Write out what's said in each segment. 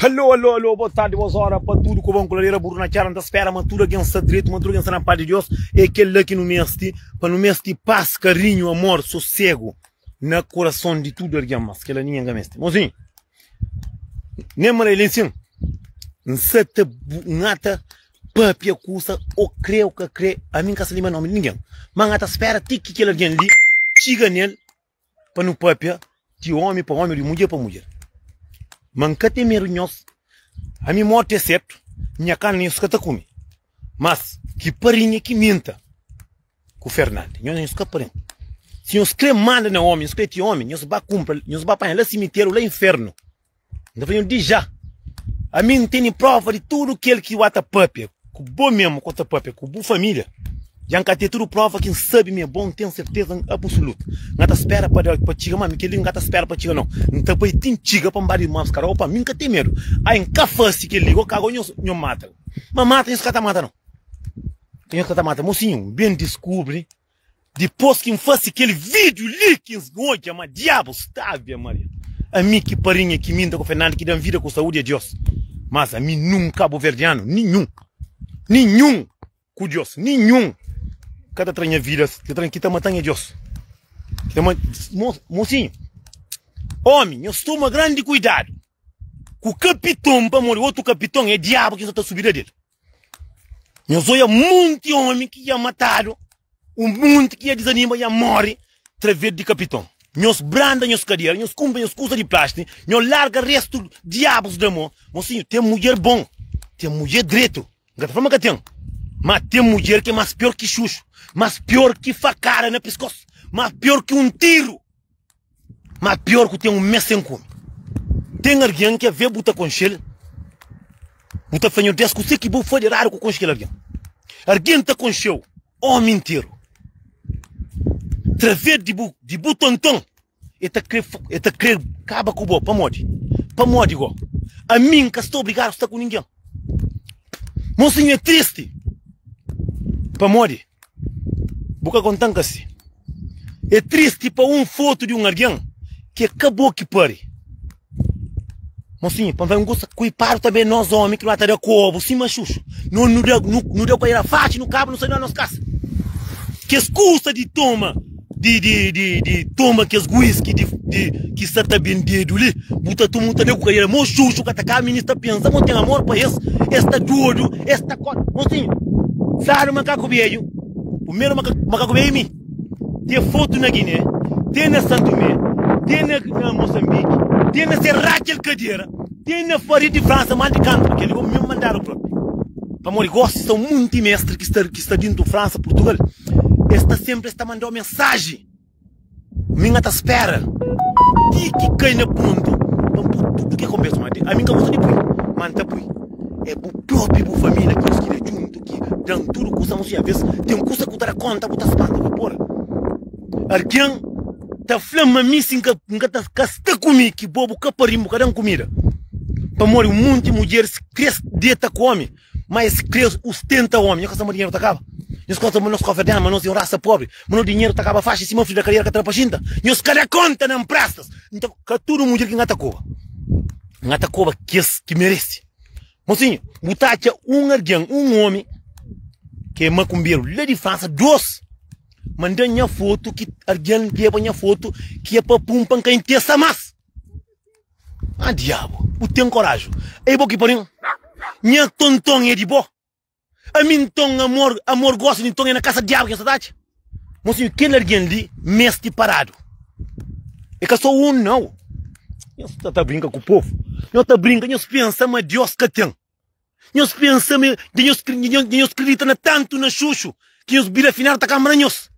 Alô, alô, alô, boa tarde, boas horas para tudo que vão coladeira burro na cara, não espera, mas tudo alguém está direito, mas tudo alguém está na paz de Deus, é aquele lá que não meste, para não meste paz, carinho, amor, sossego na coração de tudo alguém, mas que lá ninguém meste. Mozinho, nem mara ele assim, não se te nata, papia custa, ou crê, ou que crê, a mim que se lima nome de ninguém, mas nata espera, tique que ele alguém ali, chega nele, pa nu pâpia di ómi pa ómi, di mudjer pa mudjer. Ma N ka ten medu di nhos, ami mórti é sertu, nha karni nhos ka ta kume. Mas, ki parinha ki minta ku Fernandi, nhos nhos ka parinha. Si nhos krê manda na ómi, nhos krê ti ómi, nhos ba kunpra, nhos ba panha la simiteru, la infernu. N ta fla nhos, dja, ami N tene próva di tudu kel ki N ta pâpia ku bo, mésmu ku N ta pâpia ku bu família. Dja N ka ten tudu próva ki N sabe ma é bon? N ten serteza absulutu. N ka ta spera pa da-l pa txiga. Mami, kel-li N ka ta spera pa txiga, nau. N ta bai ti N txiga pa N ba di irmons Carol. Opa, mi N ka ten medu. Ai, N ka fase kel-li. Ô, ka agora nhos nhos mata-l. Ma mata nhos ka ta mata, nau. Nhos ka ta mata-l. Mosinhu, N ben diskubri Dipos ki N fase kel video li, ki N odja ma diabu sta. Ave Maria! Ami ki parinha ki minta ku Fernando ki dan vida ku saudi a Dios. Mas ami nun kabuverdiano ninhun, ninhun ku Dios, ninhun ka ta tra nha vida si. Ki ta tra, ki ta mata nha Dios. Mosinhu, omi, nhos toma grandi kuidadu ku kapiton, pamodi otu kapiton e diabu ki N sa ta subi da del. Nhos oia monti omi ki ia matadu, un monti ki ia dizanima ia mori traves di kapiton. Nhos branda nhos kadera, nhos kumpra nhos kusa di plasti, nhos larga restu diabus da mo. Mosinhu, ten mudjer bon, ten mudjer dretu, N ka ta fla ma ka ten, ma ten mudjer ki é mas pior ki xuxu, mas pior ki fakada na piskos, mas pior ki un tiru. Má pior ku ten un mês sen kume. Ten algen ki avê bu ta konxe-l, bu ta fla-nho, Des kuzê ki bo faze eradu ku konxe kel algen. Algen ta konxe-u ómi interu. Través di bu, di bu tonton, el ta krê, el ta krê kaba ku bo. Pamodi? Pamodi gó ami N ka sta obrigadu sta ku ningen. Mosinhu é tristi. Pamodi? Bu ka konta-m ka si é tristi pa un fotu di un algen ki é ka bo ki pari. Mosinhu, pa N fla-i un kusa, kuipadu ta ben nos omi ki nu ba ta da kobu sima xuxu. Nos nu da, nu da ku aera faci, nu kaba, nu sa di la nos kasa. Kes kusa di toma. di di di di toma kes guiski di di ki sa ta bendedu li bu ta toma un ta da ku kadera mo xuxu ka ta ka mi ni sta pensa mo ten amor pa es es ta dodu es ta ko mo si sadu makaku bedju primeru maka makaku bedju mi te fotu na guiné te na santomé te na na moçambique te na se rakel kadera Ten na paredi di Fransa mal di kantu, kel li omi mim mandadu propi. Pamodi gosi sta un munti mestri ki sta ki sta dintu Fransa, Purtugal, es sta senpri es ta mandau mensaji. Mim a ta spera ti ki kai na pontu pa n pui tudu ke konbersa ma di. Ami n ka gosta di pui, ma n ta pui. E bu propi, bu família, ki nos kiri juntu ki dan tudu kusa, ma si alves ten kusa ku ta da konta bu ta spanta, fla, Pol, argen. ta fla ma mi si nka nka ta ka sta ku mi ki bo bu ka pari bu ka dan kumida pamodi un monti mudjer si kres deta ku omi ma es kres ustenta omi nhos ka sta ma dinheru ta kaba nhos ka sta ma nos ka oferta ma nos ten rasa pobri ma no dinheru ta kaba faxi sima fri da kadiera ka tra pa xinta nhos ka da konta na nprastas nta ka tudu mudjer ki nka ta koba nka ta koba kes ki meresi mosinhu bu ta atxa un algen un omi ke makunberu la di fransa dos Manda nha foto ki argen leba nha foto ki é pa pun pa nka intesa mas. Ah diabo, bu tem coraju. Ei bo ki pari un. Nha tonton é di bo. Ami nton amor, amor gosta nton é na casa diabo ki nha sa ta atxa. Mosinho kel argen li mesti paradu. É ka so un nau. Nhos ta brinka ku povo. Nhos ta brinka, nhos pensa ma Deus ka tem. Nhos pensa ma dja nhos dja nhos kridita na tantu na xuxu ki nhos bira afinal ta kanbra nhos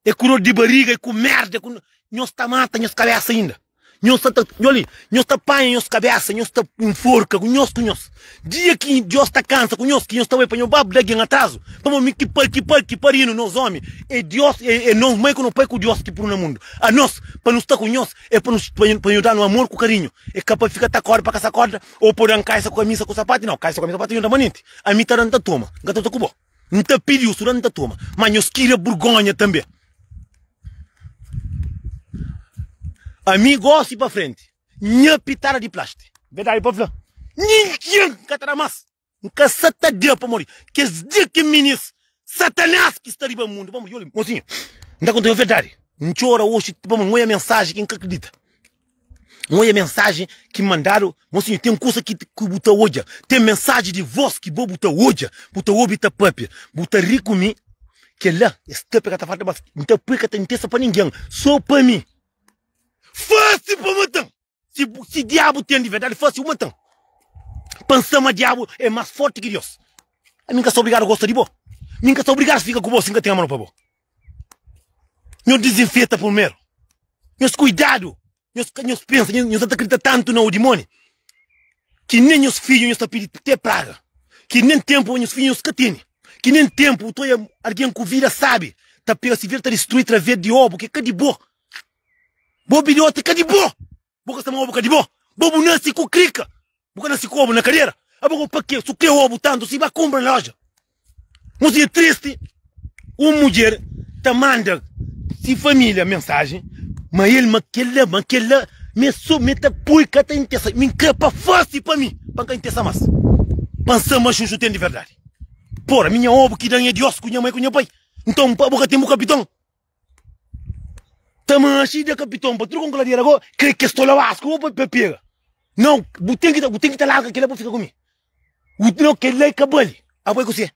e ku dor di bariga e ku merda e ku nhos ta mata nhos kabesa inda nhos ta nho li nhos ta panha nhos kabesa nhos ta inforka ku nhos ku nhos dia ki dios ta kansa ku nhos ki nhos ta bai pa nho baba da algin atrazu pamo mi ki pai ki pai ki parinu nos omi e dios e e nos mai ku no pai ku dios ki punu na mundu anos pa nu sta ku nhos e pa nu pa nhu danu amor ku karinhu e ka pa fika ta korda pa ka sa korda Ou pode dan kaisa ku kamisa ku sapati? Nau, kaisa ku kamisa ku sapati é permanenti. Ami ta da, N ta toma. N ka ta ta ku bo. N ta pidi nhos tudu, N ta toma. Má nhos kria burgonha tanbe. Ami gósi pa frenti, nha pitada di plásti. Verdadi pa fla, ninguén ka ta da más. N ka sa ta dia pamodi kes dia ki minis Satanás ki sta riba mundu pamodi yo li. Mosinha, N ta konta-u verdadi, N txora oxi pamodi N oja mensaji ki N ka kridita. N oja mensaji ki mandadu. Mosinha, ten kusa ki bu ta oja, ten mensaji di vos ki bo bu ta oja, bu ta obi, ta pâpia, bu ta ri ku mi. Kel-la é stâpia ka ta falta más. N ta pui ka ta intesa pa ningen, sô pa mi. Fase pa mata-m! Si bu si diabu ten di verdadi fasi un mantan pa N sa ma diabu e mas forti ki Deus. Ami N ka sta obrigadu gosta di bo, mi N ka sta obrigadu fika ku bo si N ka ten amor pa bo. Nhos dizinfeta purmeru, nhos kuidadu, nhos ka nhos pensa nhos nhos anta kridita tantu na odimoni ki nen nhos fidju nhos ta pidi te praga ki nen tempu nhos fidju nhos ka teni ki nen tempu utoi algin ku vida sabi ta pega si vida ta distrui traves di obu ki ka di bo. Bo bilhoti ka di bo. Bo ka sta ma obu ka di bo. Bo bu nasi ku krika. Bu ka nasi ku obu na kadera. Aba go pa ke su kre obu tantu si ba kumpra na loja. Un dia tristi un mudjer ta manda si familia mensaji ma el ma kel la ma kel la me so me ta pui ka ta intesa mi kre pa fasi pa mi pa ka intesa mas. Pa n sa ma juju ten di verdadi. Por ami nha obu ki dan e di osku nha mai ku nha pai. Nton abo ka ten bu kapiton. Ta manchi da kapiton pa tudo kon kladera go kre kes tola was ko pa pa pega. Não, bu tem que bu tem que ta larga aquele pa fica com mim. O não aquele lá cabale. Apoio com você.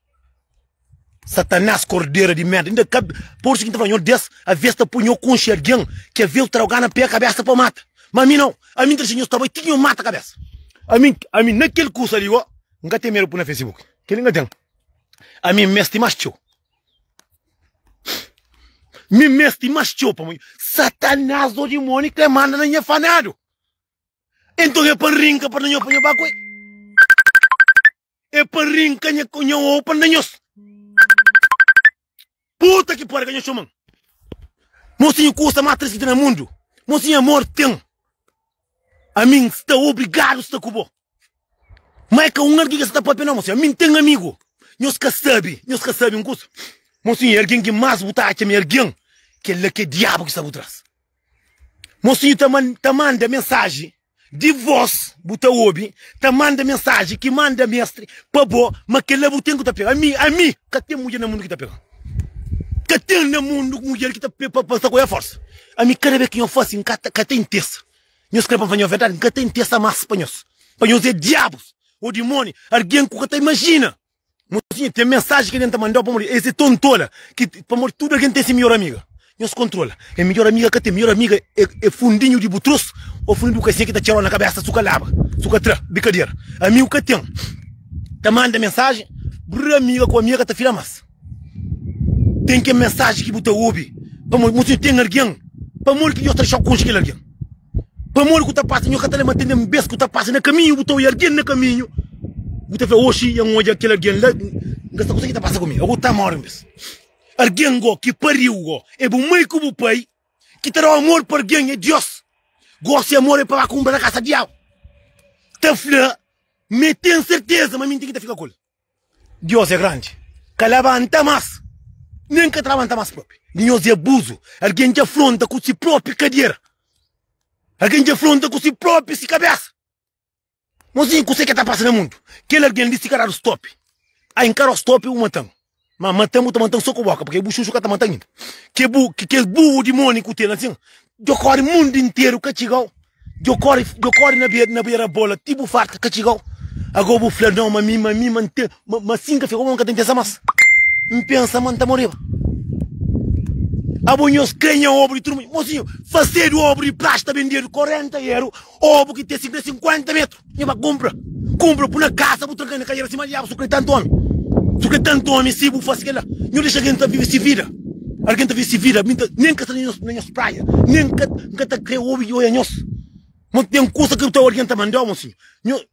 Satanás cordeira de merda. Ainda cabe por isso que tá falando des a vez tá punho com alguém que a vez traga na pé a cabeça para mata. Mas a mim não. A mim trechinho estava tinha mata a cabeça. A mim, a mim naquele curso ali, ó, nunca tem medo por na Facebook. Aquele nunca tem. A mim mestre mais teu. Mi mesti mas txeu pamodi Satanás ô dimóni ka é manda na nha fanadu. Enton é pa N rinka pa N da nhos pa nha ba ku el. É pa N rinka nha ku nha ou pa N da nhos. Puta ki pari ka nha txoman. Mosinhu kusa más tris ki ten na mundu. Mosinhu amor ten. Ami N sta obrigadu sta ku bo. Má é ka un algen ki es sta pâpia, nau. Monsinhor, ami N ten amigu. Nhos ka sabe, nhos ka sabe un kuza. Monsinhor, algen ki más bu ta atxa ma é algen, kel-la ki é Diabu ki sta bu tras. Monsinhor ta man, ta manda mensaji di vós, bu ta obi, ta manda mensaji ki manda mestri pa bo, ma kel-la bu ten ku ta pega. Ami, ami ka ten mudjer na mundu ki ta pega-m. Ka ten na mundu ku mudjer ki ta pa pasa ku el forsa. Ami kada bes ki nho fase N ka ta ka ta intesa. Nhos kre pa N fla nho verdadi? N ka ta intesa mas pa nhos. Pa nhos e diabus o dimoni argen ku ka ta imajina. Mosinha ten mensaji ki algen ta mandau pamodi es e tontola ki pamodi tudu algen ten si mior amiga. Nhos kontrola é midjor amiga ka ten midjor amiga é é fundinhu di bu trus ô fundinhu di bu kasinha ki ta txerol na kabésa su ka laba su ka tra bikadera amigu ka ten ta manda mensajen brrr amiga ku amiga ka ta fila mas ten ken mensajen ki bu ta obi pamodi bu sinti ten algen pamodi ki nhos ta dexau konxe kel algen pamodi ku ta pasa nhos ka ta leba tende un bes ku ta pasa na kaminhu bu ta oja algen na kaminhu bu ta fla oxi nha odja kel algen la n ka sta kuzê ki ta pasa ku mi ô ku ta mori un bes. Argen go ki pariu go e bu mai ku bu pai ki ta dau amor pa argen e Dios. Go si amor e paba kumpra na kasa diau ta fla mi e ten serteza ma minti ki ta fika kul. Dios e grandi ka labanta mas nen ka ta labanta mas propi. Dinhozi abuzu argen dja fronta ku si propi kadiera. Argen dja fronta ku si propi si kabesa. Mozinhu kusé ke ta pasa na mundu? Kel algen li sika dadu stopi. Ai N ka dau stopi bu matan. Ma matan bu ta matan so ku boka purke bu xuxu ka ta matan inda. Ke bu kes burru di moni ku ten asin djo kori mundu interu ka txigau. Djo kori djo kori na bera bola ti bu farta ka txigau. Ago bu fla nau ma mi ma mi ma N ten Ma, ma si N ka fika bo, N ka ta N pensa más. N pensa ma N ta moreba. Abo nhos krê nha obu di turma, mosinhu, fasedu obu di praxe ta bendedu korenta eru, obu ki ten sikrê sinkuenta metru. Nha bai kunpra, kunpra, pui na kasa, bu tranka-l na kadera sima diabu, su krê tantu omi, su krê tantu omi si bu fase kel-la, nhos dexa algen ta vive si vida, algen ta vive si vida, mi N ta, nen ka sta na nhos praia, nen ka, N ka ta krê obi di oja nhos. Ma ten kusa ki bu ta obi algen ta manda-u, mosinhu, nho.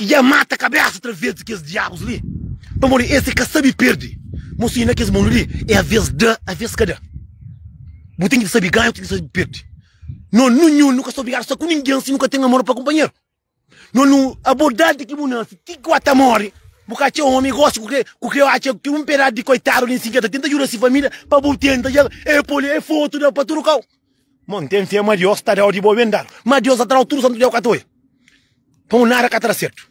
Ki dja mata kabesa otra vez di kes diabus li pamodi es e ka sabi perde mon si na kes mundu li e avês da avês ka da bu ten ki sabi ganha bu ten ki sabi perde no nu nhun nu ka sta obrigadu sta ku ningen si nu ka ten amor pa kunpanheru no nu abo dadi ki bu nase ti ku ata more bu ka atxa omi gosi ku ke ku ke atxa ki un pedadi di koitadu li si ke ta tenta djuda si familia pa bu tenta dja e poli e fotu da pa tudu kau. Mon ten fé ma Deus ta da odi bo ben dadu. Ma Deus ta trau tudu santu dia ku ka ta oia. Pa un nada ka ta da sertu.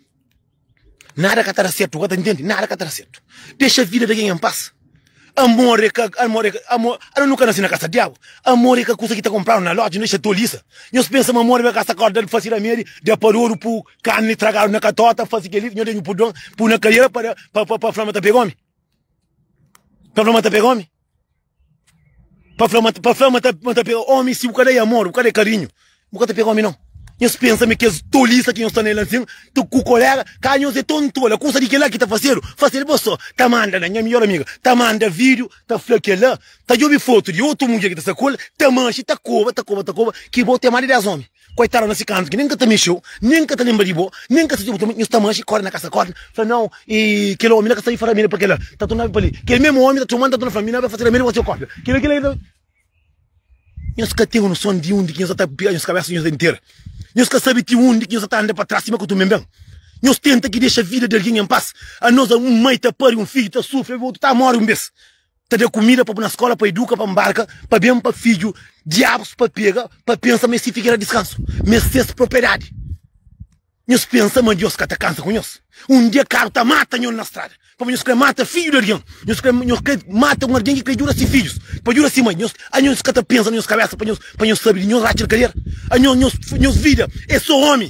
Nada ka ta da sertu, bu ka ta ntende? Nada ka ta da sertu. Dexa vida di algen en pas. Amor e ka, amor e ka, amor, ano nu ka nase na kasa di diabu. Amor e ka kusa ki ta kompradu na loja, nu dexa tolisa. Nhos pensa ma amor e ka sa korda fasi ramedi, da padodu, pu karni tragadu na katota, fasi keli, nhos da nhu pudon, pu na kaiera pa da, pa, pa, pa fla ma ta pega omi? Pa fla ma ta pega omi? Pa fla ma pa fla ma ta ma ta pega omi si bu ka da e amor bu ka da e karinhu bu ka ta pega omi no nhos pensa ma kes tolisa ki nhos sta nel ansin ta ku kolega ka nhos e ton tole kusa di kila ki ta fasedu fasedu bo so ta manda na nha midjor amiga ta manda video ta fla kela ta djobi foto di otu mudjer ki ta sa ku el ta manxi ta koba ta koba ta koba ki bo ten mas di 10 omi Koitadu na si kantu ki nen ka ta mexeu, nen ka ta lenbra di bo, nen ka siti bo, tambi nhos ta manxi, kóre na kasa kórdna, fla, Nau, e kel omi la ka sta li fla ramédi pa kel-la, ta tornaba pa li. Kel mésmu omi ta txoma-m, ta torna fla-m, Mi na ben fase ramédi pa se, kórdna. Kila ki la irta. Nhos ka ten noson di undi ki nhos sa ta pira nhos kabésa, nhos entera. Nhos ka sabe ti undi ki nhos sa ta anda pa tras sima ku tume ben. Nhos tenta ki dexa vida di algen en pas. Anos, un mai ta pari un fidju, ta sufri, obi otu ta móre un bês. ta da kumida pa bu na skola pa iduka pa mbarka pa ben pa fidju diabus pa pega pa pensa ma es si figera diskansu ma es ses propriedadi nhos pensa ma dios ka ta kansa ku nhos un dia karu ta mata nhon na strada pabia nhos kre mata fidju di algin nhos kre nhos kre mata un algin ki kre djuda si fidjus pa djuda si mai nhos a nhos ka ta pensa na nhos kabesa pa nhos pa nhos sabe di nhos ratxel kadera a nhos nhos nhos vida e so omi.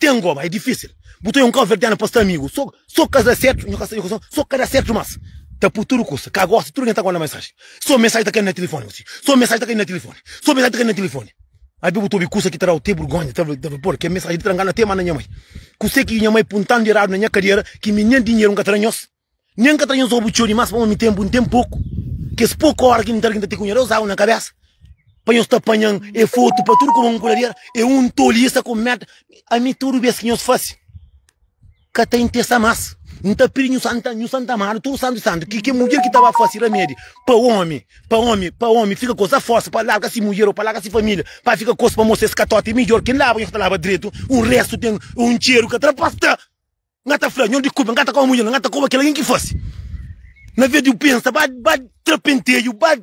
Ten goba é difísil Bu ta é un cabo-verdiano pa sta amigu So so ka da sertu Nho ka sta nho ka sta So ka da sertu mas Ta pu tudu kusa ka gosta Tudu algen ta manda mensaji So mensaji ta kai na tilifoni Hu si So mensaji ta kai na tilifoni So mensaji ta kai na tilifoni Abi bu ta obi kusa ki ta dau te burgonha Ta ta bal por ke mensaji di trangana N ta e manda nha mai Kuse ki nha mai puntandu iradu na nha kadera Ki mi nen dinheru N ka ta da nhos. Nha N ka ta inza obi txeu dimás pamó mi ten bu N ten poku Kes poku óra ki N ta rgita ti ku nha Deus agu na kabésa Pa nhos ta panha-m é fotu pa tudu kuma un kuladera É un tolisa ku mérda ami tudu bes ki nhos fase Ka ta interesa más N ta pidi nhos anta nhos anta amadu tudu santu santu Ki kel mudjer ki ta ba fase ramedi pa ómi Pa ómi pa ómi fika ku sa forsa pa larga si mudjer ô pa larga si família Pa fika ku es pamó si es ka tota é midjór ki N laba nhos ta laba dretu Un restu ten un txeru ka tra pasta. Nga ta fla, Nho dikulpa, nga ta koba mudjer la, nga ta koba kel algen ki fase. Na ves di bu pensa, ba ba tra penteju, ba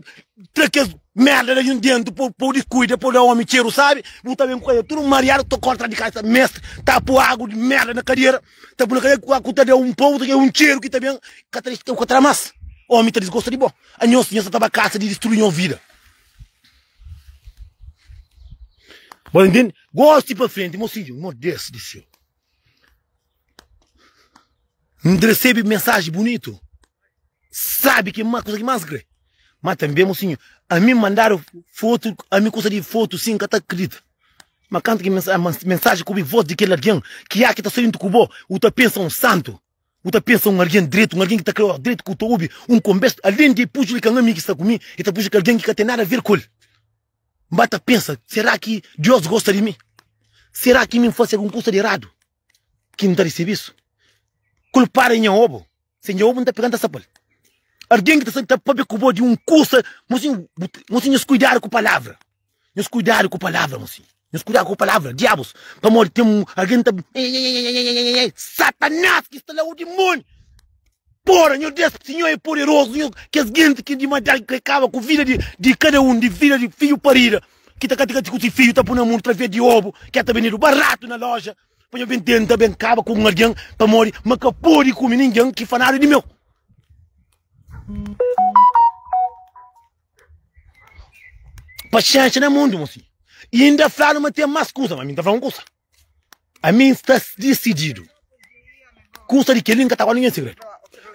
tra kes merda la nho dentu po po dikuida, po da omi txeru sabi. Bu ta ben ku kadiera tudu mariadu, ta korta la di kasa, mesta ta po agu di merda na kadiera, ta bu na kadiera ku agu ta da un pa utru, e un txeru ki ta ben ka ta dexadu ka tra mas. Omi ta disgosta di bo. Anhos di nho sa ta ba kasa di distrui nho vida. Bo ta ntende? Gosi pa frenti, mosinhu, modés di seu. N resebe mensaji bunitu, sabe ki ma kusa ki más N kre. Ma tanbe mo sinhu, ami N mandadu fotu, ami kusa di fotu si N ka ta kridita. Ma kantu ki mensa mensaji ku obi vos di kel algen ki aki ta sta dentru ku bo, bu ta pensa un santu, bu ta pensa un algen dretu, un algen ki ta kre obi dretu. Ku ta obi un konbérsu, alen di el pujil ki ka un ami ki sta ku mi, el ta pujil ki algen ki ka ten nada ver ku el. N ba ta pensa, Será ki Deus gosta di mi? Será ki mi N fasi algun kusa di eradu ki N ta resebe isu? Kulpadu é nha obu. Si é nha obu, N ta pega-l, N ta sapa-l. Algen ki ta sa-ta pâpia ku bo di un kusa, mo sin, mo sin, nhos kuidadu ku palavra, nhos kuidadu ku palavra, mo sin, nhos kuidadu ku palavra. Diabus, pamodi ten un algen ta. Eeii, Satanás ki sta la, o dimoniu. Pora nho Deus si nho é poderozu nho kes genti ki di mata ki kaba ku vida di di kada un di vida di fidju parida ki ta ka tika ti ku si fidju ta pui na mundu través di obu ki el ta bendidu baratu na loja pa nho ben tenta ben kaba ku un algen pamodi ma ka podi kumi ningen ki fanadu di meu paxénxa na mundu mo si inda fladu ma ten mas kusa ma mi n ta fla un kusa. Ami N sta disididu. Kusa di kel-li, N ka ta guarda ningen segredu.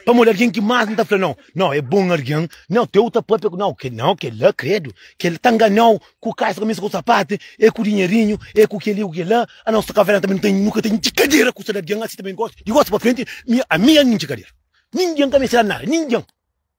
Pamodi el é algen ki más N ta fla nau. Nau, é bon algen. Nau, tê otu pâpia ku nau. Nau, kel-la, kredu, kel-la ta ngana-u ku kaixa, kamisa ku sapati, é ku dinherinhu, é ku kel-li, é ku kel-la. A nosu kafena tanbê nu ten, nu ka ten djikadera ku sel. Algen asi tanbê gosi, di gosi pa frenti. Mi, ami N ka ten djikadera. Ningen ka meste da-m nada, ningen.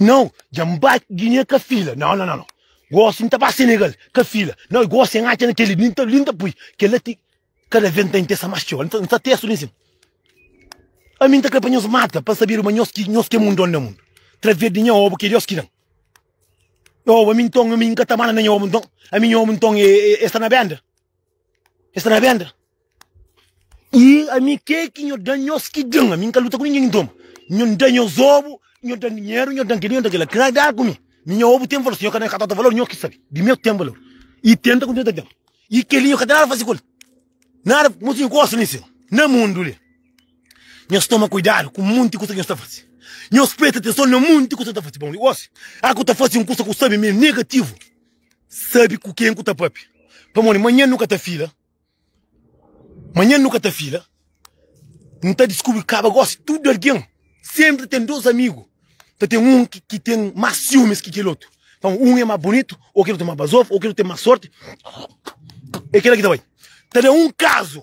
Nau, dja N ba Guiné ka fila Nau nau nau Gosi N ta ba Senegal ka fila Nau gosi N atxa na tele li N ta li N ta pui Kela ti kada vez N ta intesa mas txeu N ta N ta tesu li nsin Ami N ta kre pa nhos mata pa N sabeba ma nhos ki nhos ki é mundon na mundu Través di nha obu ki é Deus ki dan nha obu Ami nton ami N ka ta manda na nha obu nton Ami nha obu nton é é é sta na benda. Es ta na benda. E ami ke ki nho da nhos ki den? Ami nka luta ku ningen inton. Nho n da nhos obu, nho dan dinheru, nho dan kel-li, nho dan kel-la. Kdá ku mi? Mi nho obu ten valor. Si nho ka da nhos katotu valor, nho ki sabe. Di meu ten valor. E ten ta kontinua ta ten. E kel-li nho ka ten nada fasi ku el. Nada. Mo si nho gosta di sen. Na mundu li, nhos toma kuidadu ku monti kusa ki nhos ta fasi. Nhos presta atenson na monti kusa ki nhos ta fasi. Bon, i gosi, aka u ta fasi un kusa ku sabe ma e negativu. sabi ku ken ku ta papia pamodi manhan nu ka ta fila manhan nu ka ta fila nu ta diskubri kaba gosi tudu algen senpri ten dos amigu ta ten un ki ten más siumis ki kel otu pamodi un é más bunitu ô kel otu é más bazoba ô kel otu ten más sorti é kela ki ta bai ta da un kazu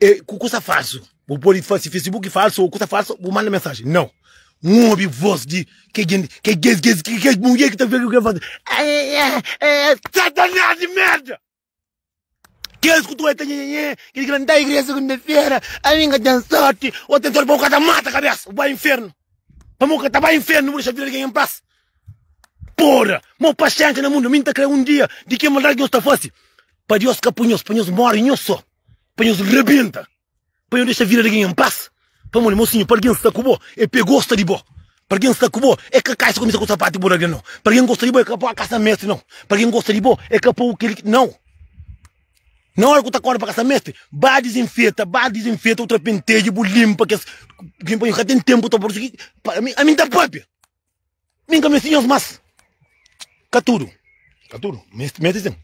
e ku kusa falsu bu pode fase facebook falsu o kusa falsu bu manda mensaji nau n obi vos di ke jinti ke kes kes ke kes mudjer ki ta fla ke fasi satanás di merda kes ku ta nhenhenhê kes ki ta nta igreja segunda fera ami n ka ten sorti o ten sorti pa bu ka ta mata kabesa bu bai infernu pamodi bu ka ta bai infernu bu dexa vida di algen en pas Pora! Mo paxénxa na mundu, mi N ta krê un dia di kel maldadi ki nhos ta fase, pa Deus ka pui nhos, pa nhos móre nhos sô, pa nhos rebenta, pa nhos dexa vida di algen en pas. Pamodi, mosinhu, pa algen sta ku bo, el pe gosta di bo. Pa algen sta ku bo, el ka kai si kumesa ku sapatu di bo di algen, nau. Pa algen gosta di bo, el ka poi a kasa meste, nau. Pa algen gosta di bo, el ka poi kel ki. Nau! Na óra ku ta korda pa kasa meste, ba dizinfeta, ba dizinfeta, otra penteja, bu linpa kes. Ami ka ten ténpu ta. Ami N ta pâpia. Min ka meste nhos más Ka tudu, ka tudu, meste, meste sin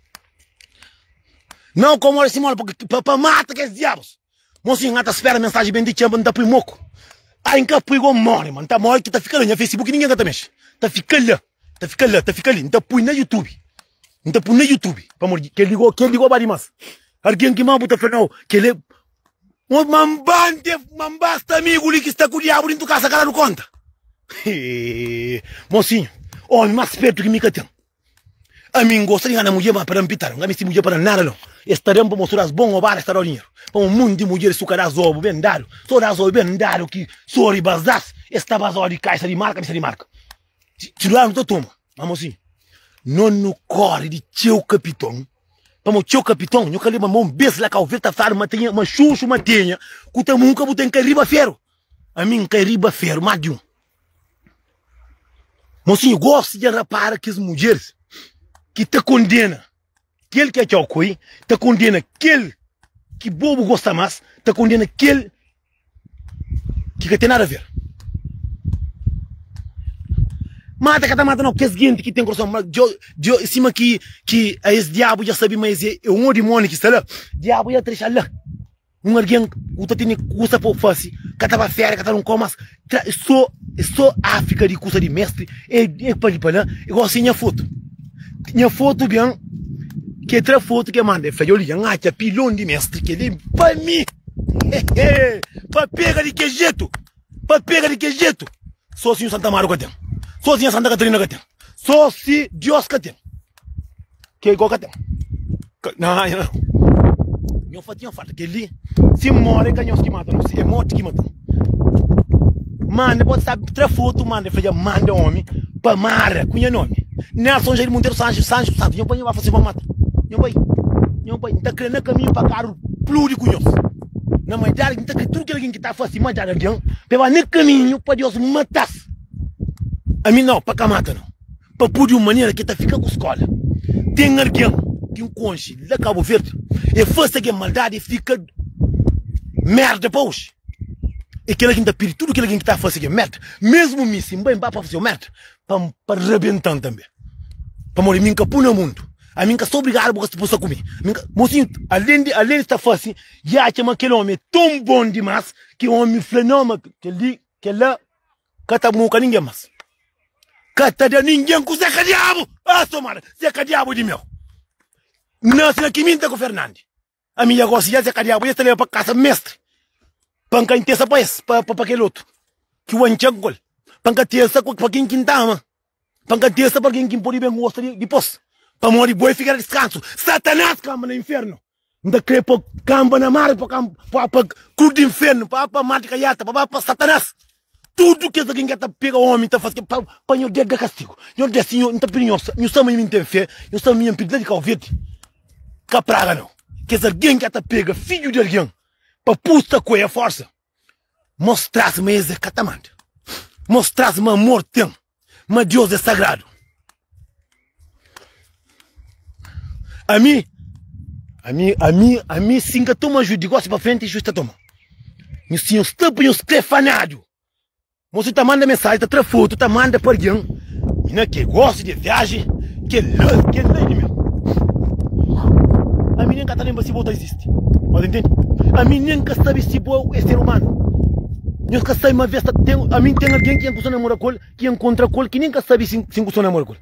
N au komóda si móla pa pa mata kes diabus Mon sin N ta spera mensaji ben di txeu N ta pui moku Ai N ka pui go N móre ma N ta móre ki ta fika la Nha facebook ningen ka ta mexe Ta fika la, ta fika la, ta fika li N ta pui na youtube N ta pui na youtube Pamodi kel-li go, kel-li go ba dimás Algen ki má bu ta fla nau Kel-li. Uns manban te manbas ta amigu li ki sta ku diabu dintu kasa ka dadu konta. Hee, mosinhu, omi mas spertu ki mi ka ten. Ami n gosta di ngana mudjer, ma pa da N pitadu. N ka misti mudjer pa da-m nada no. Es ta da-m pamodi so da-s bon obada, es ta da-u dinheru. Pamodi munti mudjeris su ka da-s obi ben dadu, so da-s obi ben dadu ki so riba es da-s, es ta ba-s odi kaxa di marka, mista di marka. Txi, txi lugar nu ta toma. Ma mosinhu, no nu kori di txeu kapiton. Pamo txeu kapiton nhu ka leba ma un bes la kau vêl ta fla-nu ma ta nha ma xuxu ma tenha ku ta munka bu ten ka riba feru ami nka riba feru más di un mosinhu gosi dja rapara kes mudjeris ki ta kondena kel ki atxau koi ta kondena kel ki bo bu gosta más ta kondena kel ki ka ten nada ver mata ka ta mata nau kes genti ki ten korason mau sima ki ki es diabu ja sabi ma es é un dimoni ki sta la diabu ja ta dexa la un algen ku ta tene kusa pa fasi ka ta ba fera ka ta da un kau mas Tra, só, só Áfrika de kusa de mestre, é, é pa li pa lá, é gosi de nha foto. Nha foto ben, ke tra foto ke manda, é fla, yo li, nha atxa pilon de mestre, ke li pa mi, hehe, pa pega de ke jetu, pa pega de ke jetu, só si nhu Santa Amaro ka ten, só si nha Santa Katarina ka ten, só si Diós ka ten. Ke igual ka ten. Nha nha fati nha fati ke li si more ka nhos ki mata no si e morti ki mata no. Mande pode sabe tra foto mande fla ja mande omi pa mara ku nha nome Nelson Jair Monteiro Sancho Sancho Santos nha pai nha ba fla si ba mata nha pai nha pai nta kre na kaminho pa karu pludi ku nhos na majada nta kre tudu kel algin ki ta fasi majada dian pa e ba na kaminho pa Dios matas ami nau pa ka mata no. pa pudi un manera ki el ta fika ku skola. Ten algen ki N konxe la Kabu Verdi, e fase algen maldadi e fika merda pa oji. E kila ki N ta pidi tudu kila algen ki ta fase algen merda, mesmu mi, si N bai, N ba pa fase-u merda, pa N pa rabenta-m tanbe. Pamodi mi N ka pui na mundu, ami N ka sta obrigadu bu ka sta bu sta ku mi. Mi N ka. Mosinhu alen di alen di sta fase, i atxa ma kel omi é ton bon dimás ki omi fla, Nau, ma kel-li, kel-la ka ta muka ninguém mas ka ta da ninguém ku zé ka diabu ah so mara zé ka diabu di meu nase na kiminta ku fernandi ami ya gosi ya zé ka diabu ya ta leba pa kasa mestre pa nka intesa pa es pa pa kel otu ki wanca gol pa nka tesa pa kin ki nta ama Pa N ka testa pa algen ki N pode ben gosta dipôs. Pamodi bo é fika na diskansu. Satanás kanba na infiernu. N ta krê pô-u kanba na mar, pa kanba pa ku di infiernu, pa ba pa mar di kaiata, pa ba pa Satanás. Tudu kes algen ki ka ta pega ómi, ta fase pa pa Nhos Deus da kastigu. Nhos Deus, Sinhor, N ta pidi Nhos, Nhos sabe ma mi N ten fé, Nhos sabe ma mi N pidi la di Kau Verdi. Ka praga-nu kes algen ki ka ta pega fidju di algen pa pusta ku el forsa. Mostra-s ma es é ka ta manda. Mostra-s ma amor ten, ma Deus é sagradu. Ami, ami, ami, ami si N ka toma ajuda di gósi pa frenti, justa toma. Nhos tinha un stâpua e nhos klefanadu. Mosi ta manda mensaji ta tra fotu ta manda pa algen mina ke gosta de viaji kela kela ini mesmo ami nem ka ta lembra si bo ta existe mas entende ami nem ka sabi si bo é ser humano nhos ka sabi ma vez ta tem ami tem algen ki nhos ta namora ku el ki nhos encontra ku el ki nem ka sabi si nhos ta namora ku el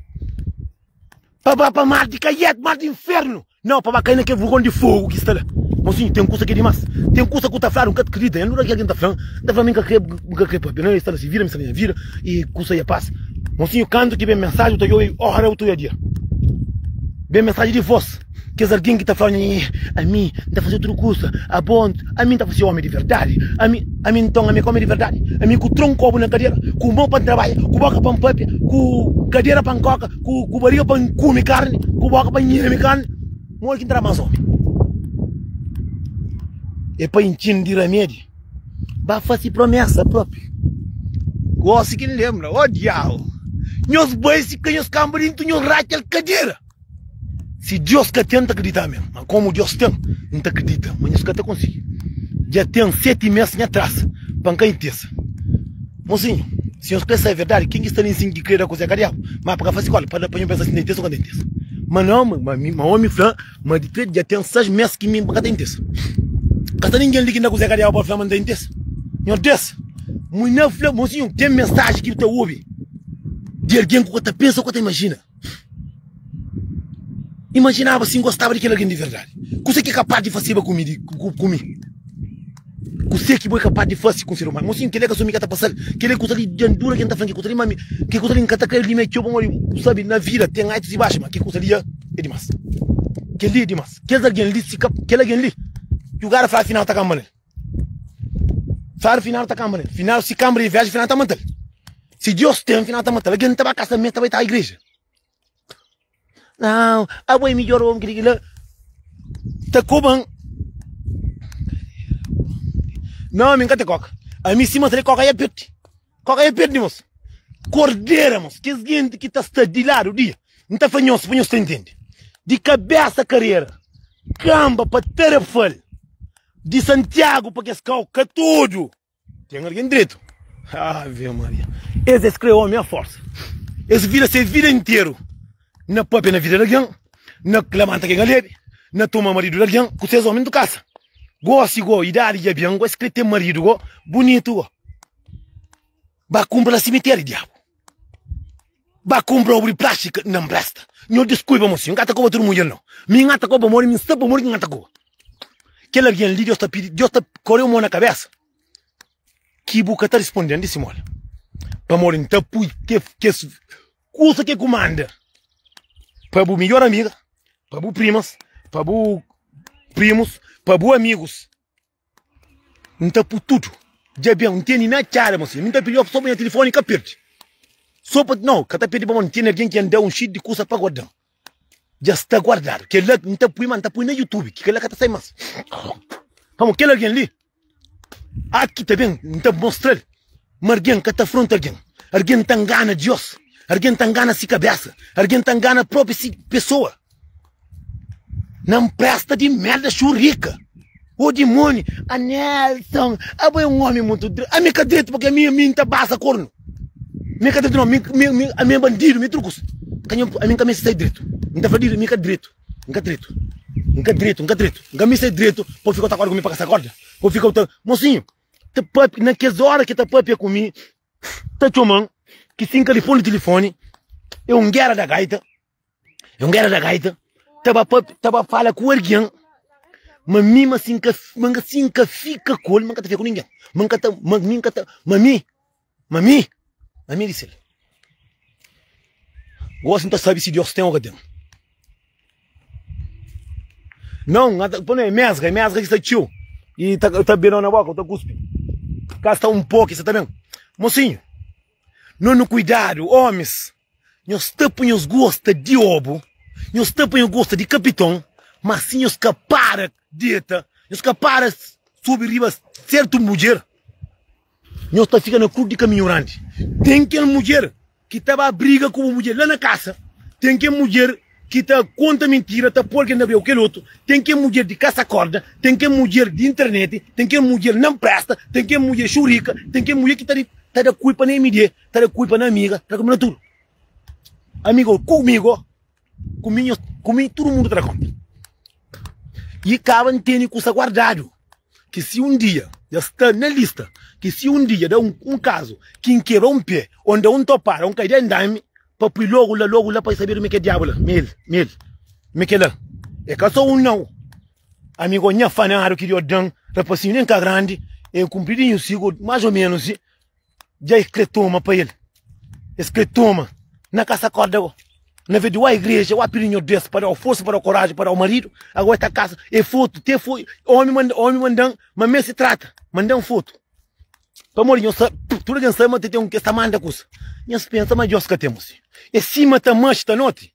Pa ba pa mar di kaiet, mar di infernu. Nau, pa ba kai na kel vugon di fogu ki sta la. Mosinhu, ten kusa ki é dimás. Ten kusa ku ta fladu N ka ta kridita. Nha nudja, ki algen ta fla-m, N ta fla-m, N ka kre, N ka kre pâpia. Nau, el sta na se vida, mi sta na nha vida i kusa ia pasa. Mosinhu, kantu ki ben mensaji bu ta obi, ora bu ta obi a dia. Ben mensaji di vos. Kes algen ki ta fla, Nhê, ami N ta faze tudu kuza, abo N, ami N ta fla si é ómi di verdadi. Ami, ami nton, ami é ka ómi di verdadi? Ami ku tronku pobu na kadera, ku mô pa N trabadja, ku bóka pa N pâpia, ku kadera pa N kóka, ku bariga pa N kume karni, ku bóka pa N nheme karni. Modi ki N ta da más ómi? É pa intxi-m di ramedi, ba fase promésa própi. Gósi ki N lenbra, ó diau! Nhos bai si ka nhos kanba di N tu nhos ratxa-l kadera. Si Deus ka ten, N ta kridita mê. Má komu Deus ten, N ta kridita ma nhos ka ta konsigi. Dja ten seti mês nha trasa pa N ka intesa. Mosinhu, si nhos krê sabe verdadi, ken ki sta na insin ki krê da kuzê kadiabu, má pa ka faze skóla, pa nho pensa si N ta intesa ô ka N ta intesa. Má nau, má omi fla ma di krê dja ten sais mês ki mi N ka ta intesa. Ka sta ningen li ki nda kuzê kadiabu pode fla ma N ta intesa. Nhos Deus, mui na fla, mosinhu, ten mensaji ki bu ta obi di algen ku ka ta pensa ô ka ta imajina. Imajinaba si N gostaba di kel algen di verdadi. Kuzê ki é kapaz di faseba ku mi? Kuzê ki bo é kapaz di fase ku un ser umanu? Mon sinhu, kel-li ka sô mi ki ta pasa-l. Kel-li é kuza di diandura ki N ta fla-m. Kel kuza li, má ami, kel kuza li N ka ta kre-l di mi. É txeu bon. Óbvio, bu sabe, na vida ten altus i baxu, má kel kuza li é dimás. Kel-li é dimás. Kes algen li, si ka, kel algen li, djugada fla afinal ta kanba na el. Fáru final ta kanba nel final si kanba di inveja final ta matal si Deus ten final ta matal algen ta ba kasamento ta bai ta igreja nau abo é midjór omi ki di kila ta koban nau ami n ka ta koka ami sima ta da koka ya piote Kóka é perde nos kordera mos kes genti ki ta sta di ladu di N ta fla nhos pa nhos ta intende di kabesa karera kanba pa Tarrafal di Santiagu pa kes kau ka tudu ten algen dretu Ave Maria es es kre omi a forsa es vira se vida interu na papia na vida di algen na lamanta ke galebe na toma maridu di algen ku ses omi N tu kasa gosi go idadi dja ben go es kre ten maridu go bunitu go. Ba kumpra na simiteri diabu Ba kumpra obri plástika na mbresta Nho diskui ba mosi N ka ta koba tudu munjer nau Mi N ta koba modi mi N sta pamodi ki N ta koba Kel algen li Deus ta pidi Deus ta koreu mo na kabesa Ki bu ka ta risponden di simola Pamodi N ta pui ke kes kusa ke ku manda Pa bu midjor amiga Pa bu primas Pa bu primus Pa bu amigus. N ta pu tudu dja ben, N tene na txada mos, mi ta pidi-l sô pa nha tilifoni ka perde. Sô pa, nau, ka ta perde bo, N tene algen ki N da un xi di kusa pa guarda-m, dja sta guardadu. Kel-la N ta pui, má N ta pui na Youtube, ki kel-la ka ta sai más. Pamodi kel algen li, aki ta ben, N ta mostra-l. ma argen ka ta afronta argen argen ta ngana dios argen ta ngana si kabesa argen ta ngana propi si pesoa na npresta di merda xurika o dimoni a nelson abo é un omi mutu dretu ami ka dretu pakia mi ami nta basa kornu mi ka dretu no mi mi ami é bandidu mi é tudu kusa ka nha ami ka meste sai dretu nta fla di mi ka dretu nka dretu nka dretu nka dretu nka meste sai dretu pa ufika ota korda ku mi pa kasa korda pa ufika ota mosinhu. ta pape na kes ora ki ta papia ku mi ta txoman ki si n ka li pô-l na tilifoni é un géra da gaita é un géra da gaita ta ba pape ta ba fala ku algen ma mi ma si n ka ma si n ka fika ku el ma n ka ta fika ku ningen ma n ka ta ma mi n ka ta ma mi. Ma mi, ma mi dise-l, Gosi N ta sabe si Deus ten o ka ten. Nau, N ata, pa no e mesga, e mesga ki sta txiu i ta, ta bebe nau na boka, o ta kuspi. Ka sta un po ki sa ta ben. Mosinhu, no nu kuidadu, omis. Nhos ta pa nhos gosta di obu, nhos ta pa nhos gosta di kapiton, ma asi nhos ka para deta, nhos ka para subi riba sertu mudjer. Nhos ta fika na krus di kaminhu grandi. Ten kel mudjer ki ta ba briga ku bu mudjer la na kasa, ten kel mudjer ki ta konta mintira, ta pô algen na breu ku kel otu, ten kel mudjer di kasa korda, ten kel mudjer di interneti, ten kel mudjer na npresta, ten kel mudjer xurika, ten kel mudjer ki ta da kulpa na MD. Ta da kulpa na amiga, ta da kulpa na tudu Amigo, kumigo, ku mi, nhos, ku mi tudu mundu ta da konta I kaba N tene kusa guardadu Ki si un dia dja sta na lista Ki si un dia da un kazu Ki N kebra un pé O N da un topara O N kai da N dami Pa pui logu la, logu la Pa e sabeba mi ke diabu la Mi el, mi el, mi ke la E ka so un nau Amigo, nha fanadu ki Dios dan Rapasinhu nen ka grandi E kunpridinhu sigu, más o ménus, i. Dja es kre toma pa el Es kre toma Na ka sa korda go Na ve di wa igreja wa pidi nho Deus pa dau forsa pa dau koraji pa dau marido Ago e ta kasa e fotu te foi omi manda omi mandan ma me si trata mandan fotu Pamor di nho sa tuda gen sabe ma te ten un ke sa manda kusa Nhas pensa ma Deus ka temo si e sima ta maxi ta noti.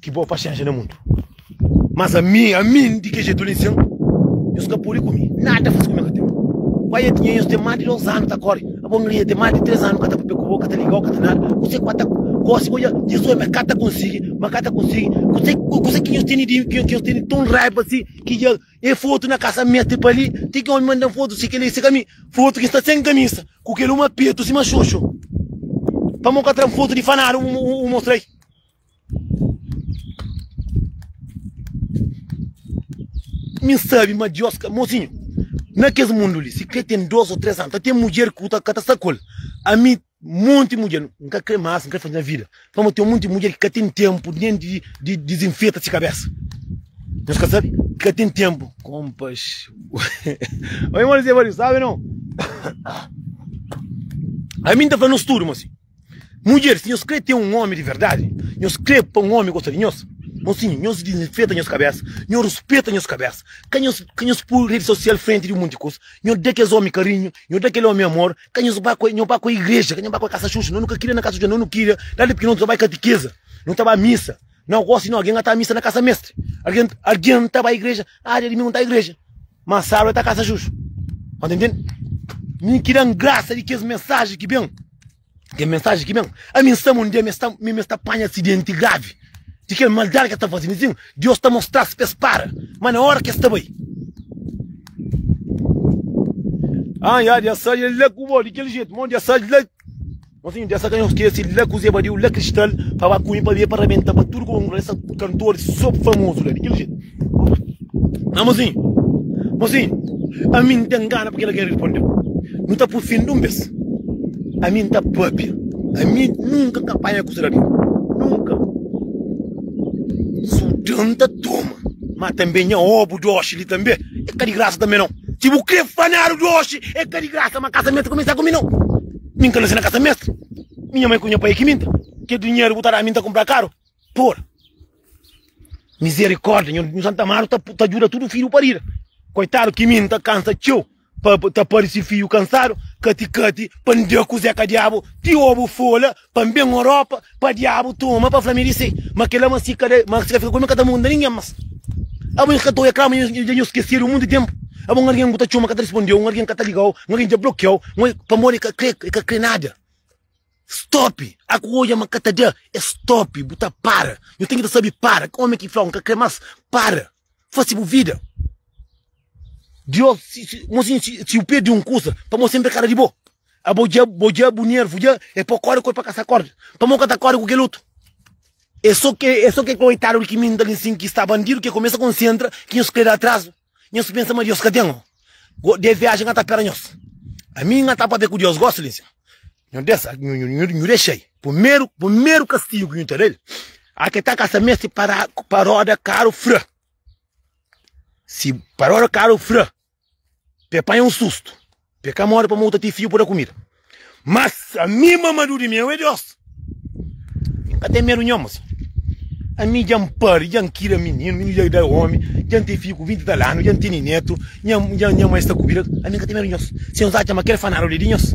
Ki bo paxénxa na mundu. Mas ami, ami di ke jetu li sen, nhos ka pode kume nada faze kume ka ten. Pai ya tinha nhos ten más di dos anu ta kore, abo nle ya ten más di tres anu ka ta papia ku bo, ka ta liga-u, ka ta nada. Kuzê ku ata gósi bo dja nhos ome ka ta konsigi, ma ka ta konsigi. Kuzê, kuzê ki nhos tene di mi, ki nhos tene ton raiba asi, ki dja e fotu na kasa mete pa li, ti ki ome manda-m fotu si kile, si ka mi, fotu ki sta sen kamisa, ku kel uma petu sima xoxo, pamo ka tra-m fotu di fanadu u mostra-i. Mi sabi ma Deus ka. Mosinhu, na kes mundu li, si krê ten dôs ô três anu, ta ten mudjer ki bu ta ka ta sta ku el. Ami, monti mudjer, N ka krê más, N krê faze nha vida. Pamodi ten monti mudjer ki ka ten ténpu nen di dizinfeta se kabésa. Nhos ka sabe? Ki ka ten ténpu. Konpas. Ô irmon Zé Valiu, sabe non? Ami N ta fla-nu, N studu, mosinhu. Mudjer, si nhos krê ten un ómi di verdadi, nhos krê pa un ómi gosta di nhos, mosinhu, nhos dizenfeta nhos kabésa, nhos ruspeta nhos kabésa. Ka nhos ka nhos poi redi sosial frenti di monti kusa. Nhos da kes ómi karinhu, nhos da kel ómi amor. Ka nhos ba ku el, nhos ba ku el igreja, ka nhos ba ku el kasa xuxa. Nhos nu ka kria na kasa xuxa, nhos nu kria la di pikinoti, nhos bai katikeza, nhos ta bai misa. Na gosi, algen na ta misa na kasa mestri, algen algen ta bai igreja, aa dia dumingu N ta igreja. Má sábi el ta kasa justu. Anda intende? Mi ki da-m grasa di kes mensaji ki ben. Kes mensaji ki ben. Ami N sta ma un dia mi sta, mi mi sta panha asidenti gravi di kel maldadi ki es ta faze. Mi sibi ma Deus ta mostra-s pa es para. Má na óra ki es ta bai. An, i adja es sai el la ku bo di kel jetu. Má un dia es sai el la. Mon senhor dja sa ka nhos skese la ku zé badiu la kristal pa ba ku mi pa bia pa rabenta pa tudu kongresa kantor so famozu la di kel jetu ah mon senhor mon senhor ami n ta ngana pa kel algen respondeu nu ta pufende un bes ami n ta papia ami nunka ka panha kusa di algen nunka su da n ta toma ma tanbe nha obu dosi li tanbe e ka di grasa tanbe nau. Ki bu kre fanadu di oxi e ka di grasa ma kasametu kumesa ku mi no. Min ka na si na kasametu. Minha mai ku nha pai ki minta. Ke dinheru bu ta da mi nta kumpra karu? Por mizerikorda nhu Santa Amaro ta ta juda tudu fiju parida. Koitadu ki mi nta kansa txeu pa ta parisi fiju kansadu kati kati pa nda ku zeka diabu ti obu fola pa N ben Europa pa Diabu toma pa fla mi di se ma kila ma si ka da ma si ka fika ku mi ka ta munda ningen mas abo N ka ta oia kla ma N dja skesedu mundu tenpu abo un algen ku ta txoma ka ta rispondeu un algen ka ta ligau un algen dja blokiau pamodi e ka kre e ka kre nada stop a ku oia ma ka ta da e stop bu ta para nu ten ki ta sabi para omi ki flau N ka kre mas para. fase bu vida di ôs mosinhu si bu perde un kusa pa mo senpri é kada di bo abo dja bo dja bu nervu dja é pa kóre kóre pa ka sa kóre pa mo ka ta kóre ku kel otu é so ke é so ke koitadu di ki minta li nsin ki sta bandidu ke kumesa konsentra ki nhos krê da atrazu nhos pensa ma dios ka ten Go de viaji nha ta pera nhos Ami nha ta pabia ku Dios Gosi li nsin Nhu desa nhu dexai Pumeru pumeru kastigu nhu ta da-l Ake ta ka sa mesti para paroda karu fra Si paroda karu fra Pe panha un sustu Pe ka mori pamodi ta ti fiu pa da kumida Mas ami mamadu di meu é Deus. Mi n ka ten medu nhoma si. Ami dja n pari, dja n kida mininu, mininu dja da omi, dja n ten fidju ku vinti tal anu, dja n tene netu, nha nha nha mai sta kubida. Ami n ka ten medu nhos. Si nhos atxa ma kel fanadu li é di nhos,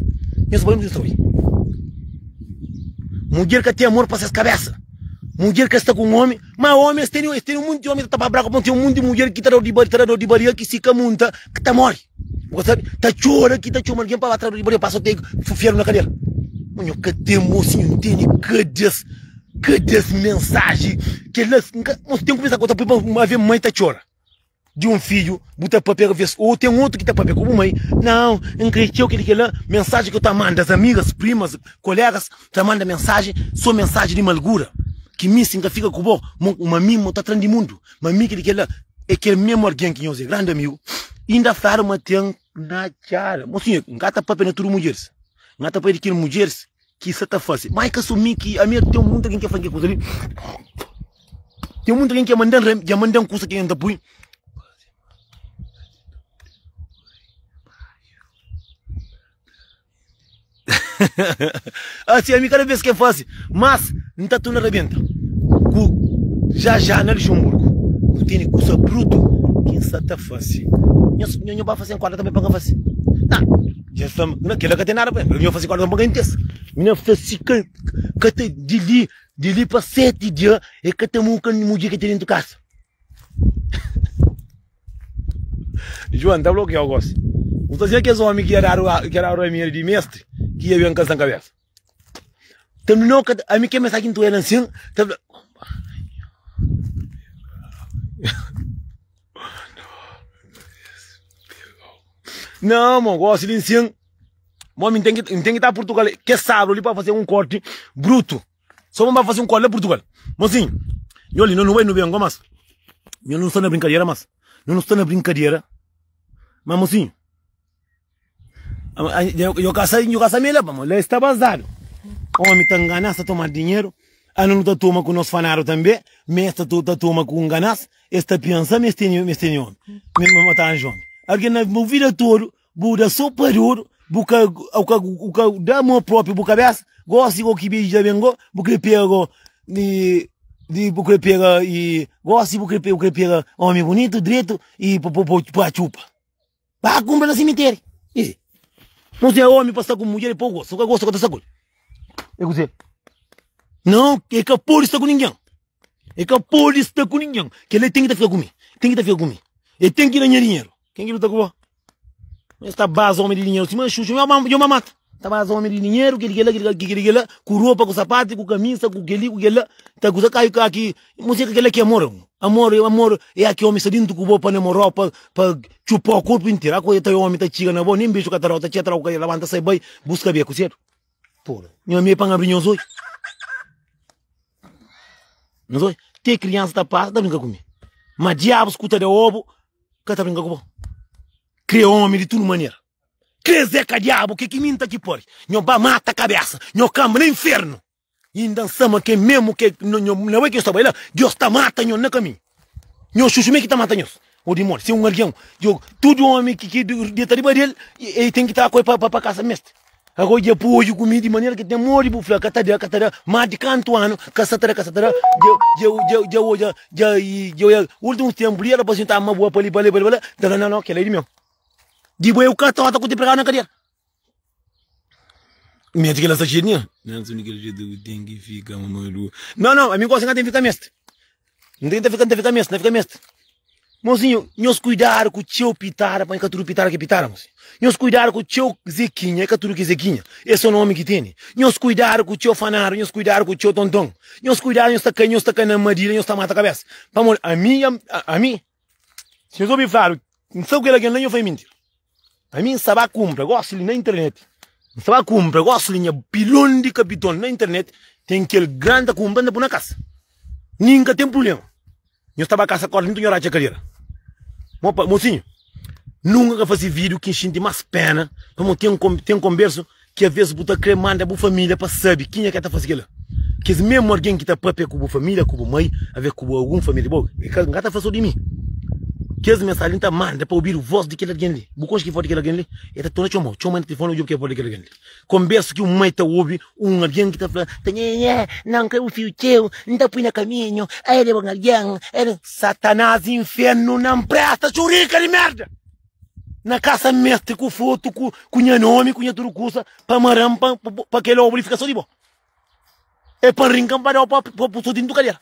nhos bai undi ki nhos ta bai. Mudjer ka ten amor pa ses kabésa. Mudjer ka sta ku un omi, ma omi es tene, es tene monti omi ta tapa braku pa un. Ten monti mudjer ki ta da di ba, ta da di baria ki si ka munta, ki ta mori. Bu ka sabe, ta txora ki ta txoma algen pa ba traduzir, bo debe pasa teg fu fiadu na kadera. Ma nho ka ten mo si nho ntende kades, kades mensaji kelas n ka, mo si ten kumesa ku ta pui pa ma ve mai ta txora di un fidju bu ta papia ka ves ou ten otu ki ta papia ku bu mai, nau n kre txeu kel i kel la, mensaji ku ta manda as amigas, primas, kolegas ta manda mensaji, so mensaji di malgura, ki mi si n ka fika ku bo, mo, ma mi mo ta tran di mundu. ma mi ki di kela e kel mesmo algen ki nhos e grandi amigu inda fladu ma ten na txada mo sinhor nka ta papia na tudu mudjeris nka ta papia di kel mudjeris ki sa ta fase ma e ka so mi ki ami ten monti algen ki fla-m kel kusa li ten monti algen ki dja manda-m kusa ki ami nta pui Asi ami kada bes ke fase mas N ta torna rabenta ku ja ja na Luxemburgo nu tene kusa brutu ke N sa ta fase nho nho ba fase nkorda tanbe pa N ka fase ah ja sta ma na kila ka ten nada pa mi nho fase nkorda tanbe pa N ka intesa mi na fase ka ka ta di li di li pa sete dia e ka ta muka mudjer ke ten dentu kasa. Juan ta blokiau gosi. Bu ta sen kes omi ki ta dadu ramera di mestri ki ia ben ka san kabesa. Terminou ka ta, ami ke mensagem tu ela nsin, ta fla. Não, mo gosi di nsin. Mo mi tem que tem que estar Portugal. Que sábado ali para fazer um corte bruto. So bo ba fase un kóla la Purtugal. Mosinhu, nho li, no nu bai nu ben gomas. Nho nu sta na brinkadera mas. Nho nu sta na brinkadera mas, mosinhu. Nho ka sai, nho ka sai me la ba mo. La e sta bazadu. Omi ta nganas, ta toma dinheru. Ana nu ta toma ku nos fanadu tanbe. Ma es ta toma ku nganas. Es ta pensa ma es tene, ma es tene omi. Ma ta anja omi. Algen na bu vida todu Bu da so pa di otu, bu ka au ka au ka da amor propi bu kabesa, gosi go ki beji da ben go, bu kre pega go di di bu kre pega i gosi bu kre pega bu kre pega omi bunitu dretu i pa po pa txupa ba kunpra na simiteri i mo si é omi pa sta ku mudjer i pa gosi o ka gosi o ka ta sta ku el e kuzê non e ka podi sta ku ningen e ka podi sta ku ningen kila ten ki ta fika ku mi ten ki ta fika ku mi e ten ki da nha dinheru. Ken ki luta ku bo? Nhos ta baza omi di dinheru sima xuxa, nhos ba nhos ba mata. Ta baza omi di dinheru, kel di kel-la, kel di kel-la, kel di kel-la, ku ropa, ku sapatu, ku kamisa, ku kel-li, ku kel-la, ta kuza kai ka ki, nhos acha kel-la ki é amor? Amor é amor é aki omi sta dintu ku bo pa-l amor ó, pa pa txupa-u korpu interu. Aku ta omi ta txiga na bo, nen beju ka ta da-u, ta txi atrau ku kaiela, labanta sai bai, buska bia ku sedu. Pô-m. Nha mei pan abri nhos odju. Nhos odju. Te kriansa ta pasa ta brinka ku mi. Ma diabus ku ta da obu ka ta brinka ku bo. Kre omi di tudu manera. Kre Zé ka diabu ke ki mi N ta ki pori. Nho ba mata kabesa nho kanba na infernu. Inda N sa ma ke mesmu ke na bo ke nho sta bai la. Deus ta mata nho na kaminhu. Nhos xuxu me ki ta mata nhos. Ô dimoni, se un algen djoga tudu ómi ki ki deta riba di el, el ten ki tra ku el pa kasa meste. Agora dja poi odju ku mi, di manera ki el ten modi bu fla, Ka ta da, ka ta da. Mas di kantu anu ka sa ta da, ka sa ta da, dja odja, dja oiá ultimus tenpu li, el ta parse un ta ama bo pa li, pa la, pa la, pa la, da la, na, na, kela é di meu. Di bo eu ka ta ota ku ti pregadu na kadiera. Mê ti ki la sta txeu dinheru. Nhas úniku ki el dja debe ten ki fika ma madu. Nau nau, ami gosi n'ka ten fika meste. N ten fika n'ta fika meste, n'ta fika meste. Mosinhu, nhos kuidadu ku txeu pitada p'e ka tudu pitada ki pitada mosinhu. Nhos kuidadu ku txeu Zekinha, e ka tudu ki e Zekinha. E so nomi ki tene. Nhos kuidadu ku txeu fanadu, nhos kuidadu ku txeu tonton. Nhos kuidadu nhos ta kai, nhos ta kai na armadilha, nhos ta mata kabesa. Pamodi ami, ami. Nhos obi fladu, N sta ku kel algen la. Nho fla, É minti. Ami N sta ba kunpra gosi li na internet. N sta ba kunpra gosi li nha pilon di kapiton na internet. Ten kel gran ta kunpra, N ta pui na kasa. Mi N ka ten prubléma. Nho sta ba kasa korda nton nho ratxa kadera. Mo pa, mosinhu, nunka ka fase vídiu ki N xinti más péna pamodi ten, ten konbersu Ki avês bu ta krê manda bu família pa sabe kenha ki el ta faze kel-la. Kes mésmu algen ki ta pâpia ku bu família, ku bu mai, alvês ku algun família di bo, el ka, N ka ta fla-s sô di mi. Kes mensajen li N ta manda pa obidu vós di kel algen li. Bu konxe ki vós di kel algen li? El ta torna txoma-u. Txoma-l na tilifoni, odja-u ki é vós di kel algen li. Konbérsa ki un mai ta obi un algen ki ta fla, Tanhâ, na N krê bu fidju txeu, N ta pui na kaminhu, el é bon algen, el é. Satanás, inférnu na N présta, txurika di mérda! Na kasa meste ku fotu ku ku nha nomi ku nha tudu kusa pa maram pa pa kel obu li fika so di bo. E pa n rinkan pa da pa pa pu so dintu kadera.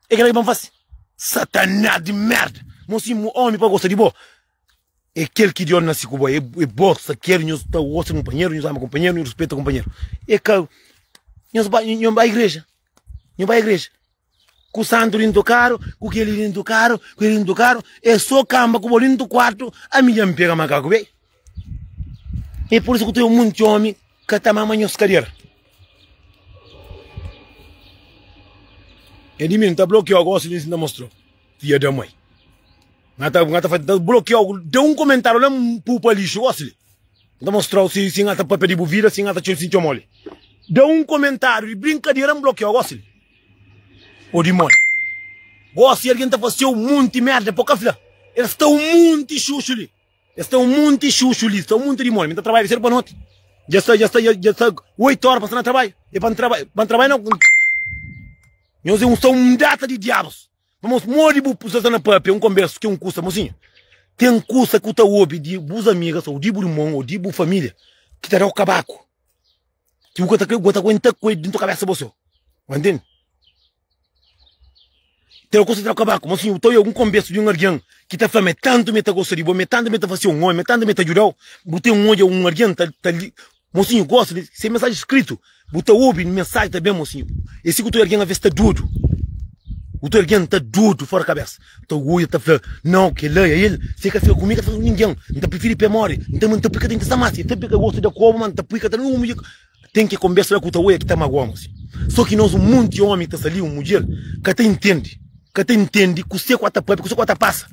E kila ki pa n fasi. Satanás di merda! Mo si mo omi pa gosta di bo? E kel ki di omi nasi ku bo. E e bo sa ker nhos ta gosta kunpanheru, nhos ama kunpanheru, nhos rispita kunpanheru. E ka nhos ba nhos ba igreja? Nhos ba igreja? ku santu di nto karu ku keli di nto karu ku keli di nto karu e so kamba ku bo di nto kuartu ami dja n pega makaku be e por isu ku ten monti omi ka ta mama nhos kadiera e di mi n ta blokiau gosi di mi si n ta mostrau fia da mai n ta blokiau da un komentariu la n pupa lixu gosi li. N ta mostra-u si si N ata pâpia di bu vida, si N ata txeu si txeu moli. Da un komentáriu di brinkadera, N blokiou gósi-l? Ô di modi? Gósi algen ta fase-u monti mérda pa bu ka fla? El sta un monti xuxu li. El sta un monti xuxu li. Sta un monti di modi. Mi N ta trabadja di sedu pa noti. Dja sta, dja sta, dja sta oitu óra pa N sta na trabadju. É pa N trabadja, pa N trabadja na. Nhos é un, sta un data di diabus. Irmãos, modi bu precisa sta na pâpia um conversa tem um custa, mocinha? Tem um custa que ta ouve de bus amigas ou de bu irmão ou de bu família que ta dau cabaco. Que bu ta crê, bu ta aguenta com ele dentro da cabeça você. Vai entende? Tem um custa dau cabaco, mocinha, então eu um conversa de um alguém que ta fala, me tanto me ta gosta de bo, me tanto me ta fazer um homem, me tanto me ta ajudau, bu tem um olho, um alguém ta, ta, Mosinhu gosta di se mensagem escrito bu ta obi mensagem ta bem mosinhu e si ku tudu algin a vez ta dodu ku tudu algin ta dodu fora cabeça ta oia ta fla nao kela é el se ka fla ku mi ka fla ku ninguin n ta preferi pé mori n ta mante pui ka ta interesa mas e sabe ka gosta da koba ma n ta pui ka ta na un tem ki conversa la ku ta oia ki ta magoa mosinhu so ki nos un monti omi ta sali un mudjer ka ta intendi ka ta intendi kuse ku a ta papia kuse ku a ta passa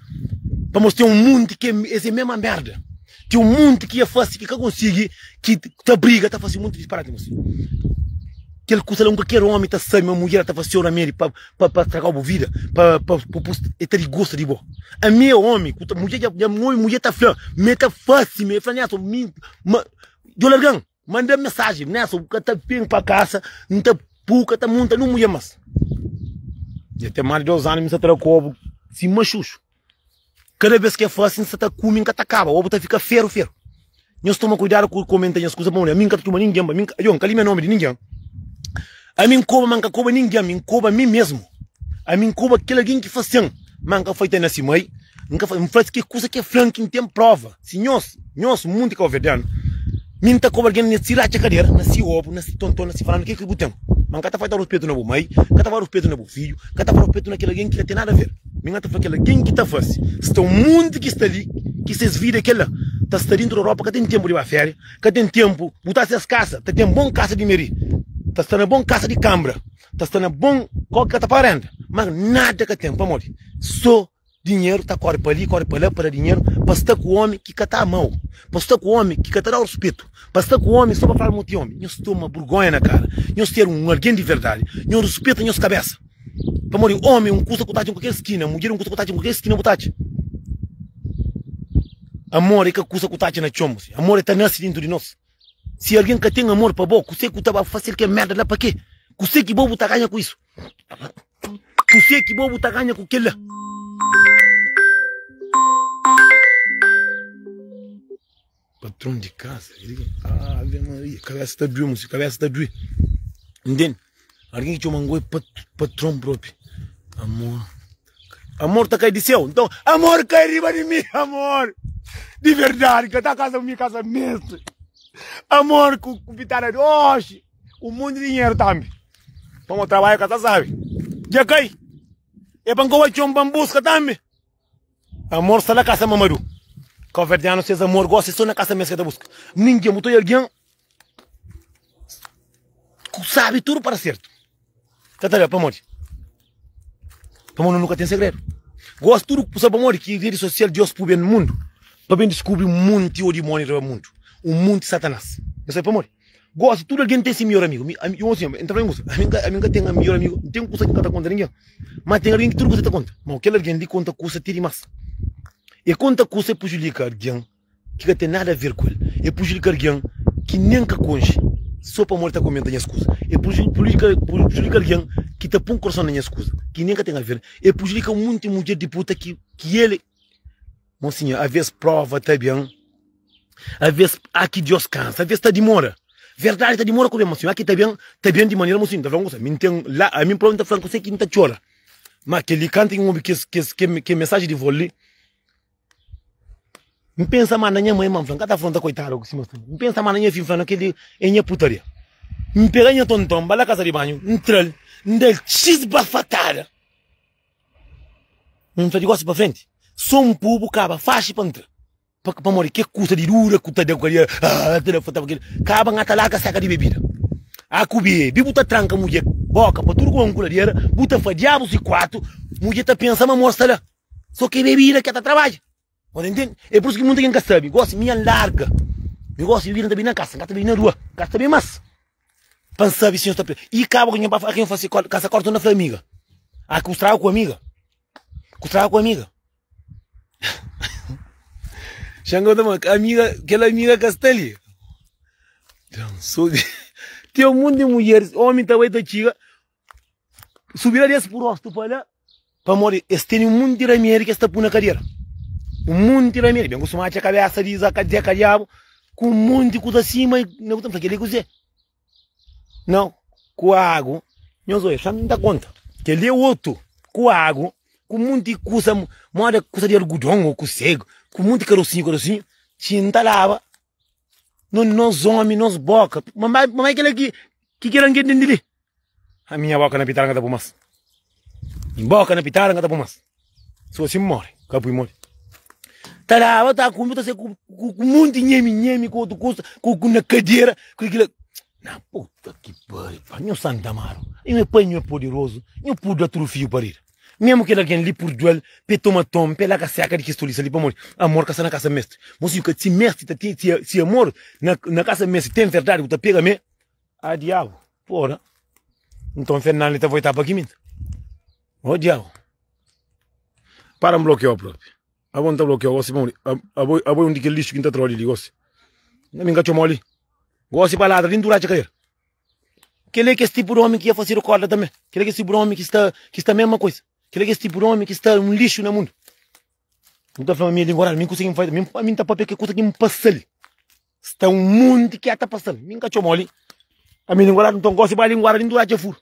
pamos tem un monti ke es é mema merda. Ki un monti ki e fasi ki ka konsigi ki ta briga ta fasi monti disparati gosi kel kusa la un kalker omi ta sabi ma mudjer ta fasi ora medi pa pa stragau bu vida pa pa pus e ta disgosta di bo ami e omi ku ta mudjer ja omi mudjer ta fla ma e ta fasi mi e fla niason mi ma jo largan. Manda mensagem nessa bu ka ta vem pa casa N ta bu ka ta monta nun mulher mas Ya tem mas de dois anos mi sa tra kobu si machuxo Kada vez ke fasi N sa ta kumi N ka ta kaba obu ta fika feru feru Nhos toma cuidado ku comenta nhas kusa pa mulher mi N ka ta txuma ninguem ba mi N ka yo N ka limia nomi di ninguem. Ami N koba, ma N ka koba ningen, ami N koba mi mesmu. Ami N koba kel algin ki fase-m, ma N ka faita na si mai. N ka faita, N fase ki kusa ki e fla-m ki N ten prova. Si nhos, nhos munti kabuverdianu, mi N ta koba algin na si ratxa kadera, na si obu, na si tonton, na si faranan, ke ki bu ten? Ma N ka ta faita ruspetu na bu mai, N ka ta faita ruspetu na bu fidju, N ka ta faita ruspetu na kel algin ki ka ten nada ver. Mi N ta fla kel algin ki ta fase, sta un munti ki sta li, ki ses vida e kel la ta sta dintu da ropa, ka ten tenpu di ba feria. ka ten tenpu bu ta ses kasa ta ten bon kasa di meri ta sta na bon kasa di kambra ta sta na bon kau ka ta pa renda ma nada ka ten pamodi so dinheru ta kori pali kori pala pa da dinheru pa sta ku omi ki ka ta amau pa sta ku omi ki ka ta dau ruspetu pa sta ku omi so pa fla ma bo ti omi nhos toma burgonha na kara nhos ter un algen di verdadi nhos ruspeta nhos kabesa. Pamodi omi é un kusa ku ta atxi kualker skina, mudjer é un kusa ku ta atxi kualker skina bu ta atxa. Amor é ka kusa ku ta atxa na txon, amor é ta nase dintu di nos. Si algen ka ten amor pa bo, kuse ku ta ba fasil kel merda la? Pakê? Kuse ki bo bu ta ganha ku isu? Kuse ki bo bu ta ganha ku kel la? Patron di casa, ave maria, cabeça ta dui, moço, cabeça ta dui. Entende? Alguém que chama Angoi pat, patrão próprio. Amor. Amor tá cai de céu. Então, amor cai riba de mim, amor. De verdade, que tá casa minha casa mesmo. Amor com, com pitada de hoje. Um monte de dinheiro também. Vamos trabalhar, casa sabe. Já cai. É para que eu vá busca também. Amor sta la kasa mamadu Kaverdianu ses amor gosi é so na kasa mes ke ta buska Ninguen bu ta oi alguen ku sabi tudu para sertu Ka ta da pamodi Pamo no nu ka ten segredu Gosi tudu ku sa pamodi ki redi sosial Dios puben mundu pa ben diskubri munti odimoni riba mundu Un munti satanas Nu sabi pamodi. Gosi, tudu algen ten se midjór amigu. Mi, ami, un algen, enta fla, N gosi, ami N ka, ami N ka ten midjór amigu, N ten kusa ki N ka ta konta ningen. Má ten algen ki tudu kusa el ta konta. Mau, kel algen li konta kusa ti dimás. El konta kusa, el prujudika algen ki ka ten nada aver ku el. El prujudika algen ki nen ka konxe, sô pamodi el ta kumenta nhas kuza. El pruju, prujudika, prujudika algen ki ta pô-m korson na nhas kuza, ki nen ka ten aver. El prujudika munti mudjer di puta ki, ki el. Mosinha, avês prova ta ben Avês, aki Dios kansa Avês ta dimora Verdadi ta dimora ku ben Mosinha, aki ta ben Ta ben di manera Mosinha, N ta fla-m kusa Mi N ten la ami prova N ta fla-m kusa ki N ta txora Ma kel-li kantu N obi kes kes Kel mensaji di vôl li N pensa ma na nha mai Ma N fla-m ka ta afronta koitadu ku si ma N pensa ma na nha fi N fla-m kel-li é nha putaria N pega nha tonton N ba la kasa di banhu N tra-l N da-l xis bafatada. N fla di gosi pa frenti, so un pobu kaba faxi pa ntra, pamodi ke kusa di dura ku ta da ku alia aa ta da furta pa kila kaba ngata larga seka di bebida a ku bebi bu ta tranka mudje boka pa tudu ku ban ku la di era bu ta fla diabu si kuatu mudje ta pensa ma amor sta la so ke bebida ke ta trabadja. Bo ta intende? É pur isu ki munta algen ka sabe. Gósi mi N larga. Mi gósi di bira, N ta bai na kasa, N ka ta bai na rua. N ka ta sabe más. Pa N sabe si nhos ta pira. I kaba ku nha pai fla, Aki N fase kóla, kasa kóla, torna fla amiga. Aki ku straga ku amiga. Ku straga ku amiga. Xangau ta fla, Amiga, kel amiga ka sta li. Ten un monti di mudjeris, ómi ta bai ta txiga. Subida des bu rostu pa la Pamodi es teni un munti ramedi ki es ta pui na kadera Un munti ramedi Ben kustuma atxa kabesa di Zaka Dzeka Diabu Ku un munti kuza sima Nau ku ta fla kel-li kuzê Nau ku agu Nhos oi, fla-m N ta konta Kel-li é otu Ku agu Ku munti kuza Moda kuza di algudon ô ku segu Ku munti karosinhu karosinhu Txi N ta laba Nos, nos omi, nos boka. Mamai, mamai kela ki, ki kela nge tende li. A minha boka na pitara nga ta pui mas. Minha boka na pitara nga ta pui mas. Su assim more, ka pui modi. Ta laba, ta kume, ta se ku, ku, ku monti nhemi, nhemi, ku otu kusa, ku, ku na kadera, ku kila. Na puta ki pariu, pa, nho Santa Amaro, nho é pai, nho é poderoso, nho puda atrufiu pa rira. Memu kel algen li purdua-l, pa e toma ton, pa e laka seka di kes tolisa li, pamodi amor ka sta na kasa mestri. Mo si ka si mestri ta ten, si amor na kasa mestri ten verdadi ku ta pega me, a diabu, pora! Nton Fernando li ta voitá pa Guiminta. O diabu! Para N blokiau propi. Abo N ta blokiau gosi, pamodi abo, abo é un di kel lixu ki N ta tra-u li gosi. Mi N ka txoma-u li gosi pa ladra li N tura atxa karera. Kel-li é kes tipu di ómi ki N fasidu kórda tanbê. Kel-li é kes tipu di ómi ki sta, ki sta mésma kuza. Kel-li é kes tipu di ómi ki sta un lixu na mundu. N ta fla ma mi é linguaráriu, mi N konsigi faze. Mi, pa mi, N ta pâpia kel kuza ki N pasa-l. Sta un monti ki dja ta pasa-l, mi N ka txoma-l li. Pa mi, linguaráriu nton gósi ba linguada, li N duradja furu.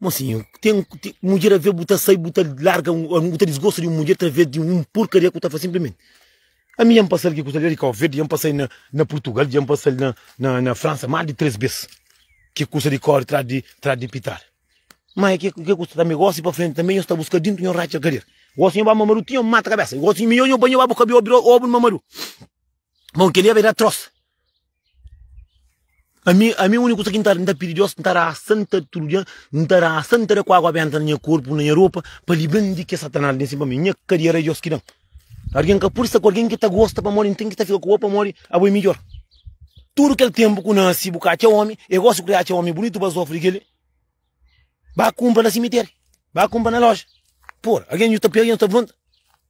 Mosinhu, ten, ten mudjer a vê bu ta sai, bu ta larga, bu ta disgosta di un mudjer través di un purkaria ku ta fase sinplimenti. Ami dja N pasal ki kusa li, di Cabo Verde, dja N pasal na na Purtugal, dja N pasal na na na Fransa más di três bes, ki kusa di kóre tras di tras di pital. Má é ke ke kusa tanbê, gósi pa frenti tanbê, nho sta bu ska dintu, nho ratxa kader, gósi nho ba mamaru ti nho mata kabésa, gósi nho ba bu ka bê obi obi un mamaru, bon kel-li é bem atros. Ami, ami úniku kusa ki N ta, N ta pidi Deus, N ta da asan, ta tudu dia, N ta da asan, N ta da ku agu benta na nha korpu, na nha ropa, pa libra-m di kes satanás ben sin pa mi. Nha kadiera é Deus ki da-m. Algen ka pode sta ku algen ki ta gosta pamodi N ten ki sta fika ku bo pamodi abo é midjór. Tudu kel ténpu ku nase bu ka atxa ómi, é gósi ku ta atxa ómi bunitu ba sofri kel-li. Ba kunpra na simitéri, ba kunpra na loja. Pô, algen dja ta pega, algen dja ta levanta.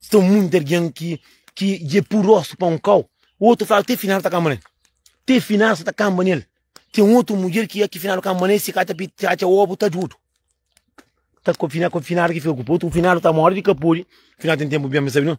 São muitos alguém que, que é puroso para um cão. O outro fala, até final tá camba nele. Até final você tá camba nele. Tem outro mulher que é que final camba nele, se cata acha ovo, tá judo. Tá com final, com final que fica com o outro, final tá morre de capuri. Final tem tempo bem, sabe não?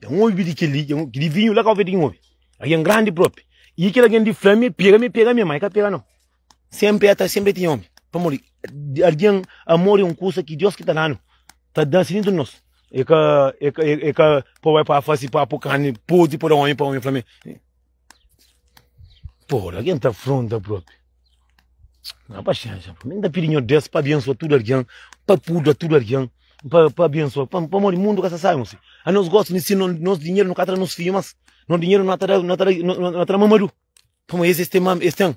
Dja N obi di kel-li, dja N obi. Ki di vinhu la ka obi di N obi. Algen grandi propi. I kel algen di fla-me, Pega-me, pega-me, ma e ka pega-no. Senpri e ta, senpri e tinha omi. Pamodi algen, amor e un kusa ki Deus ki ta da-nu, ta da si dentru di nos. E ka, e ka, e ka, pa bai pa fasi, pa po karni podri, pa da omi, pa omi fla-me. Pô, alguém tá afronta próprio. Não, paciência. Pra mim, dá pirinho desse pra abençoar tudo alguém, pra pudra tudo alguém, pra, pra abençoar, pra, pra morrer mundo que sai, moço. A nós gosta de si, nós, nós dinheiro não catra nos filhos, mas nós dinheiro não atra, não atra, não atra mamadu. Como esse, esse tem, esse tem.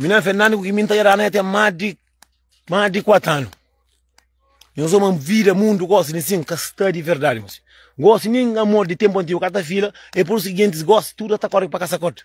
Mi na Fernando ku ki mi n ta yera la, ya ten más di más di kuatu anu. Nhos sta ma vida, mundu, gosi di sin ka sta di verdadi. Gosi nin amor di tempu antigu ka ta fila, e pur isu ki gentis gosi tudu ta kori pa kasa kota.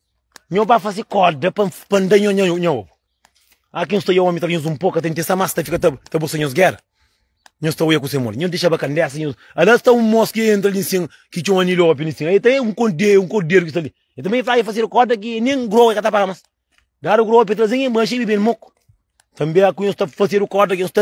Nho ba fazi koda pa pa nda nho nho nho obu. A ki nho sta oia omi ta ba nhos un poka ta intesa mas ta fika ta ta busa nhos gera. Nho sta oia kuse modi. Nho dixaba ka ndesa nho. Ala sta un mos ki entra li nsin ki txoma Nilo opi li nsin. Ai ta e un korde un korderu ki sta li. E ta ben fla e fazi koda ki e nen groa e ka ta paga mas. Dadu groa opi trazen e nbaxi e bibe el moku. Tambi a ki nho sta fazedu koda ki nho sta.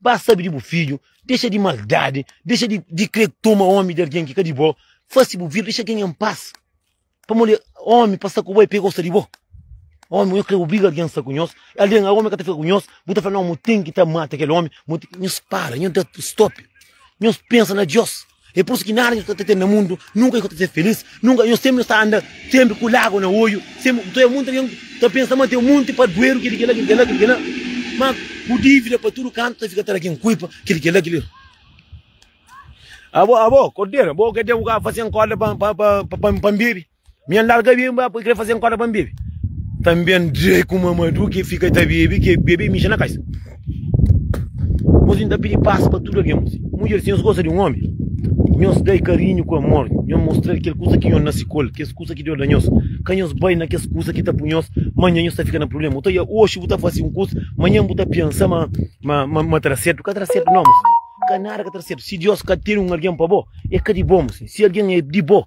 Ba sabi di bu fidju, dexa di maldadi, dexa di di kre toma omi di algen ki ka di bo, fasi bu vida, dexa algen en pas. Pamodi omi pa sta ku bo e pega osa di bo. Omi nhos kre obriga algen sta ku nhos, algen a omi ka ta fika ku nhos, bu ta fla no mu ten ki ta mata kel omi, mu ten, nhos para, nhos da stop, nhos pensa na Dios. É pur isu ki nada ki nu ta ten na mundu nunka ka ta ser filís. Nunka, nhos sénpri nhos ta anda sénpri ku lágua na odju. Sénpri ta oja monti algen ta pensa ma ten un monti padueru, kel-li, kel-la, kel-li, kel-la, kel-li, kel-la. Má bu dívida pa tudu kantu ta fika ta da kel kuipa, kel-li, kel-la, kel-li, kel-la. Abo, abo, Korderu, abo ka ten ku ka faze-m korda pa N bebe? Mi N larga bebe, N bai poi krê fazê N korda pa N bebe Tanbê N dre ku Mamadu Ke fika ta bebe, ke bebe mija na kaisa Mos N ta pidi pas pa tudu algen mos Mudjer si nhos gosta di un omi, nhos da-i karinhu ku amor Nhos mostra-l kel kusa ki nhos na sikola Kes kusa ki Deus da nhos Ka nhos bai na kes kusa ki ta pui nhos Manhan nhos ta fika na prubléma Otaria, Oxi bu ta fase un kusa Manhan bu ta pensa ma, ma, ma, ma tra sertu Ka tra sertu nau mos Ka nada ka tra sertu Si Deus ka tene un algen pa bo, el ka di bo mos Si algen é di bo.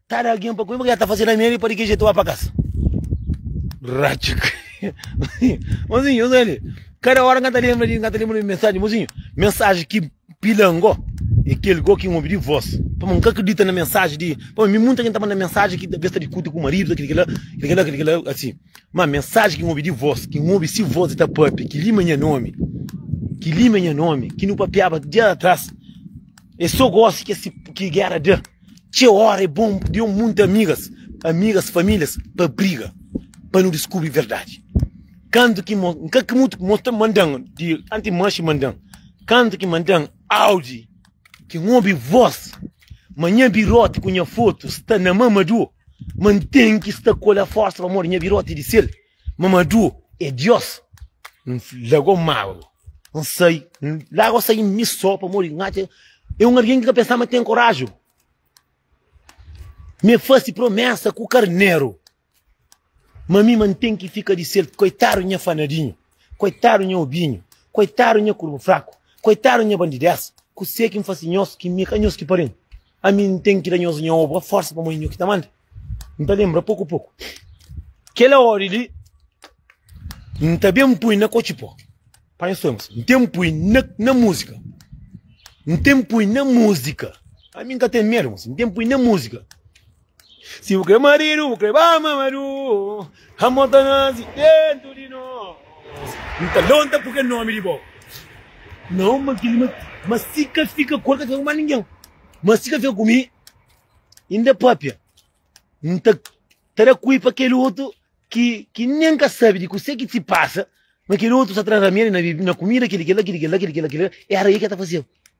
Kada algen pa kume, ta fase lameri pa di ke jetu ba pa kas. Ratxi. Mozinho, usa li. Kada ora nga ta lembra di, nga ta lembra di mensagem, mozinho. Mensagem ki pila ngo, e kel go ki ngobi di vos. Pa ma nga kredita na mensagem di, pa mi munta ken ta manda mensagem ki besta di kuta ku marido, kel kila, kel kila, kel kila, asin. Ma mensagem ki ngobi di vos, ki ngobi si vos e ta papia, ki lima nha nomi, ki lima nha nomi, ki nu papiaba dia atras, e so gosi ki esse, ki gera da. Txeu ora é bom pudi un monti amigas, amigas, famílias pa briga pa nu diskubri verdadi. Kantu ki mo, nka ki mutu mo sta mandan di anti manxi mandan. Kantu ki mandan audi ki n obi vos ma nha biroti ku nha fotu sta na mamadu ma n ten ki sta ku el a forsa pamodi nha biroti di sel. Mamadu é Diós. N lagó mágua. N sai. N larga o sai mi só pamodi N atxa é un algen ki ka pensaba ten koraji. Mi é fase promésa ku karneru. Ma mi ma N ten ki fika di sel. Koitadu nha fanadinhu. Koitadu nha obinhu. Koitadu nha kurba fraku. Koitadu nha bandidés. Kuzê ki N fase nhos ki mi é ka nhos ki pari-m? Ami N ten ki da nhos nha obra forsa pamodi nho ki ta manda. N ta lembra poku poku. Kela odi li N ta ben pui na kochipo. Pa nhos temos. N ten pui na, na música. N ten pui na música. Ami N ka ten medo, mosi. N ten pui na música. Si bu kre maridu, bu kre ba mamadu Amor ta nasi dentu di nos N ta lonta purke nomi di bo Na un ma kili ma si ka fika ku el ka fika ku ma ningen Ma si ka fika ku mi inda é papia N ta ta da kui pa kel otu ki ki nen ka sabi di kuse ki si pasa Ma kel otu sa tra ramedi na na kumida kili kila kili kila kili kila kila Era i ke ta fasiba.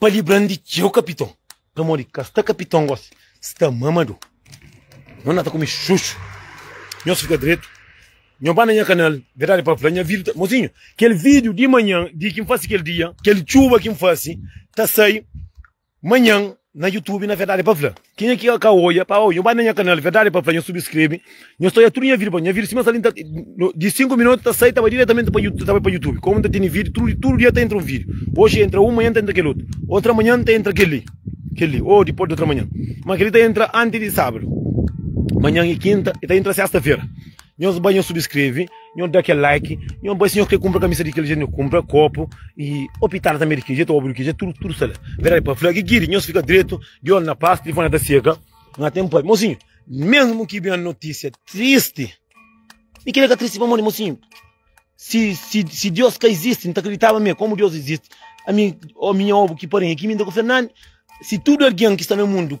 Pa libra-m di txeu kapiton Pamodi ka sta kapiton gosi Sta mamadu Nhos na ta kume xuxu Nhos fika dretu Nhos ba na nha kanal Verdadi pa fla nha vida ta Mozinhu, kel vídiu di manhan Di ki N fase kel dia Kel txuba ki N fase Ta sai manhan. na youtube na verdade pa fla kenha ki ka oia pa oia nho bai na nha canal verdade pa fla nho subscreve nho sta oia tudo nha video pa nha video sima sta di 5 minutos ta sai ta bai diretamente pa youtube ta bai pa youtube como ta tene video tudo tudo dia ta entra um video hoje entra um manhã ta entra aquele outro outra manhã ta entra aquele aquele ou depois de outra manhã mas aquele ta entra antes de sábado manhã e quinta e ta entra sexta feira nho bai nho subscreve Nhon da kel like, nhon bai se nhon kre kumpra kamisa di kel jeito, nhon kumpra kopu e o pitara tanbe di kel jeito, obu di kel jeito, tudu tudu sta la. Verdade pa fla, gigiri nhos fika dretu, di olhu na pas, tilifoni ta seka, na ten pai. Mosinho, mesmo ki ben noticia triste, mi kre ka triste pamodi mosinho, si si si Deus ka existe, nta kriditaba me, komu Deus existe, ami o minha obu ki parenha ki mi nta ku Fernande, si tudu algen ki sta na mundu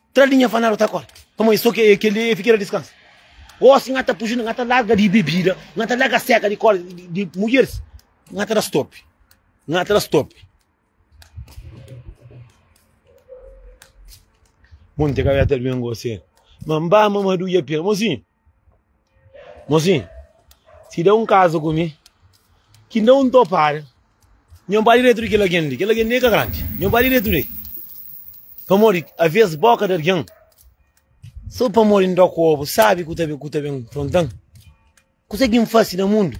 Tra li nha fanadu ta korta Pamodi so ki kel li e fika na diskansa Osi nha ta puji nha ta larga di bebida Nha ta larga seka di kóla di mudjeris Nha ta da stopi Nha ta da stopi Monti ka ben gosi Mamba mamadu ya pia Mozinhu. Mosin, si da un kaza ku mi ki nda un topara, nho ba diretu di kel algen li, kel algen li ka grandi, nho ba diretu di el, pamodi avês bóka di algen, so pamodi nda kobu sabi ku ta ku ta ben fronta-m? Kuzê ki N fase na mundu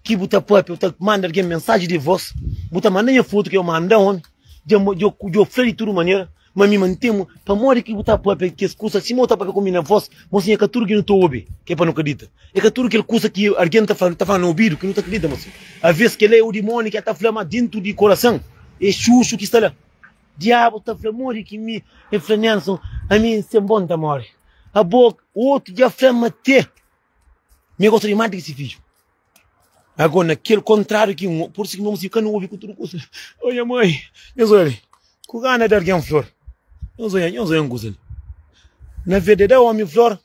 ki bu ta pâpia, bu ta manda algen mensaji di vos, bu ta manda nha fotu ki eu manda omi, dja dja dja fla di tudu manera. Ma mi mantemu, pamodi ki bu ta papia kes kusa sima bu ta papia ku mi na vos? Mo sin, é ka tudu ki nu ta obi ki é pa nu kridita. É ka tudu kel kusa ki algen ta fla, ta fla na obidu ki nu ta kridita. Mo sin, alvês kel-la é un dimóni ki el ta fla, má déntu di korason é xuxu ki sta la. Diabu ta fla, Modi ki mi? El fla, Nelson, ami, sen bo, N ta móre. Abo, otu dja fla-m ma tê Mi gosta di mante ki si fidju. Ago na kel kontráriu ki un, por si ki nhos si ka na obi ku tudu kusa. O nha mai, nhos oia li, ku gana da algen flor. Nhos oia, nhos oia un kusa li. Na verdadi, da omi flor,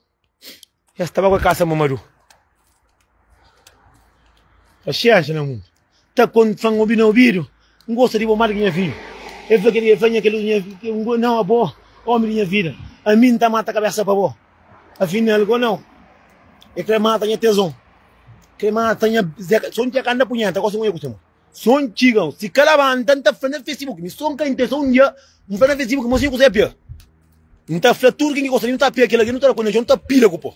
es ta ba ku el kasa mamadu. Paxénxa na mundu. Ta kon fla-m, obi na obidu, N gosta di bo más di ki nha fidju. El fla kel-li, el fla, Nha kel-li, nha fidju, N gosta di bo, ómi di nha vida. Ami N ta mata kabésa pa bo. Afinal, kau nau, el krê mata nha tezon, krê mata nha zeka. Son txeka N ta punheta, gosi mo nha kusta mo. Son txiga, si ka labanta, N ta fla na Facebook, mi son ka intesa un dia N fla na Facebook, mo si nha kusta é pia. N ta fla tudu ken ki gosta di mi, nu ta pia kel algen, nu ta da kó nha txon, nu ta pila ku po.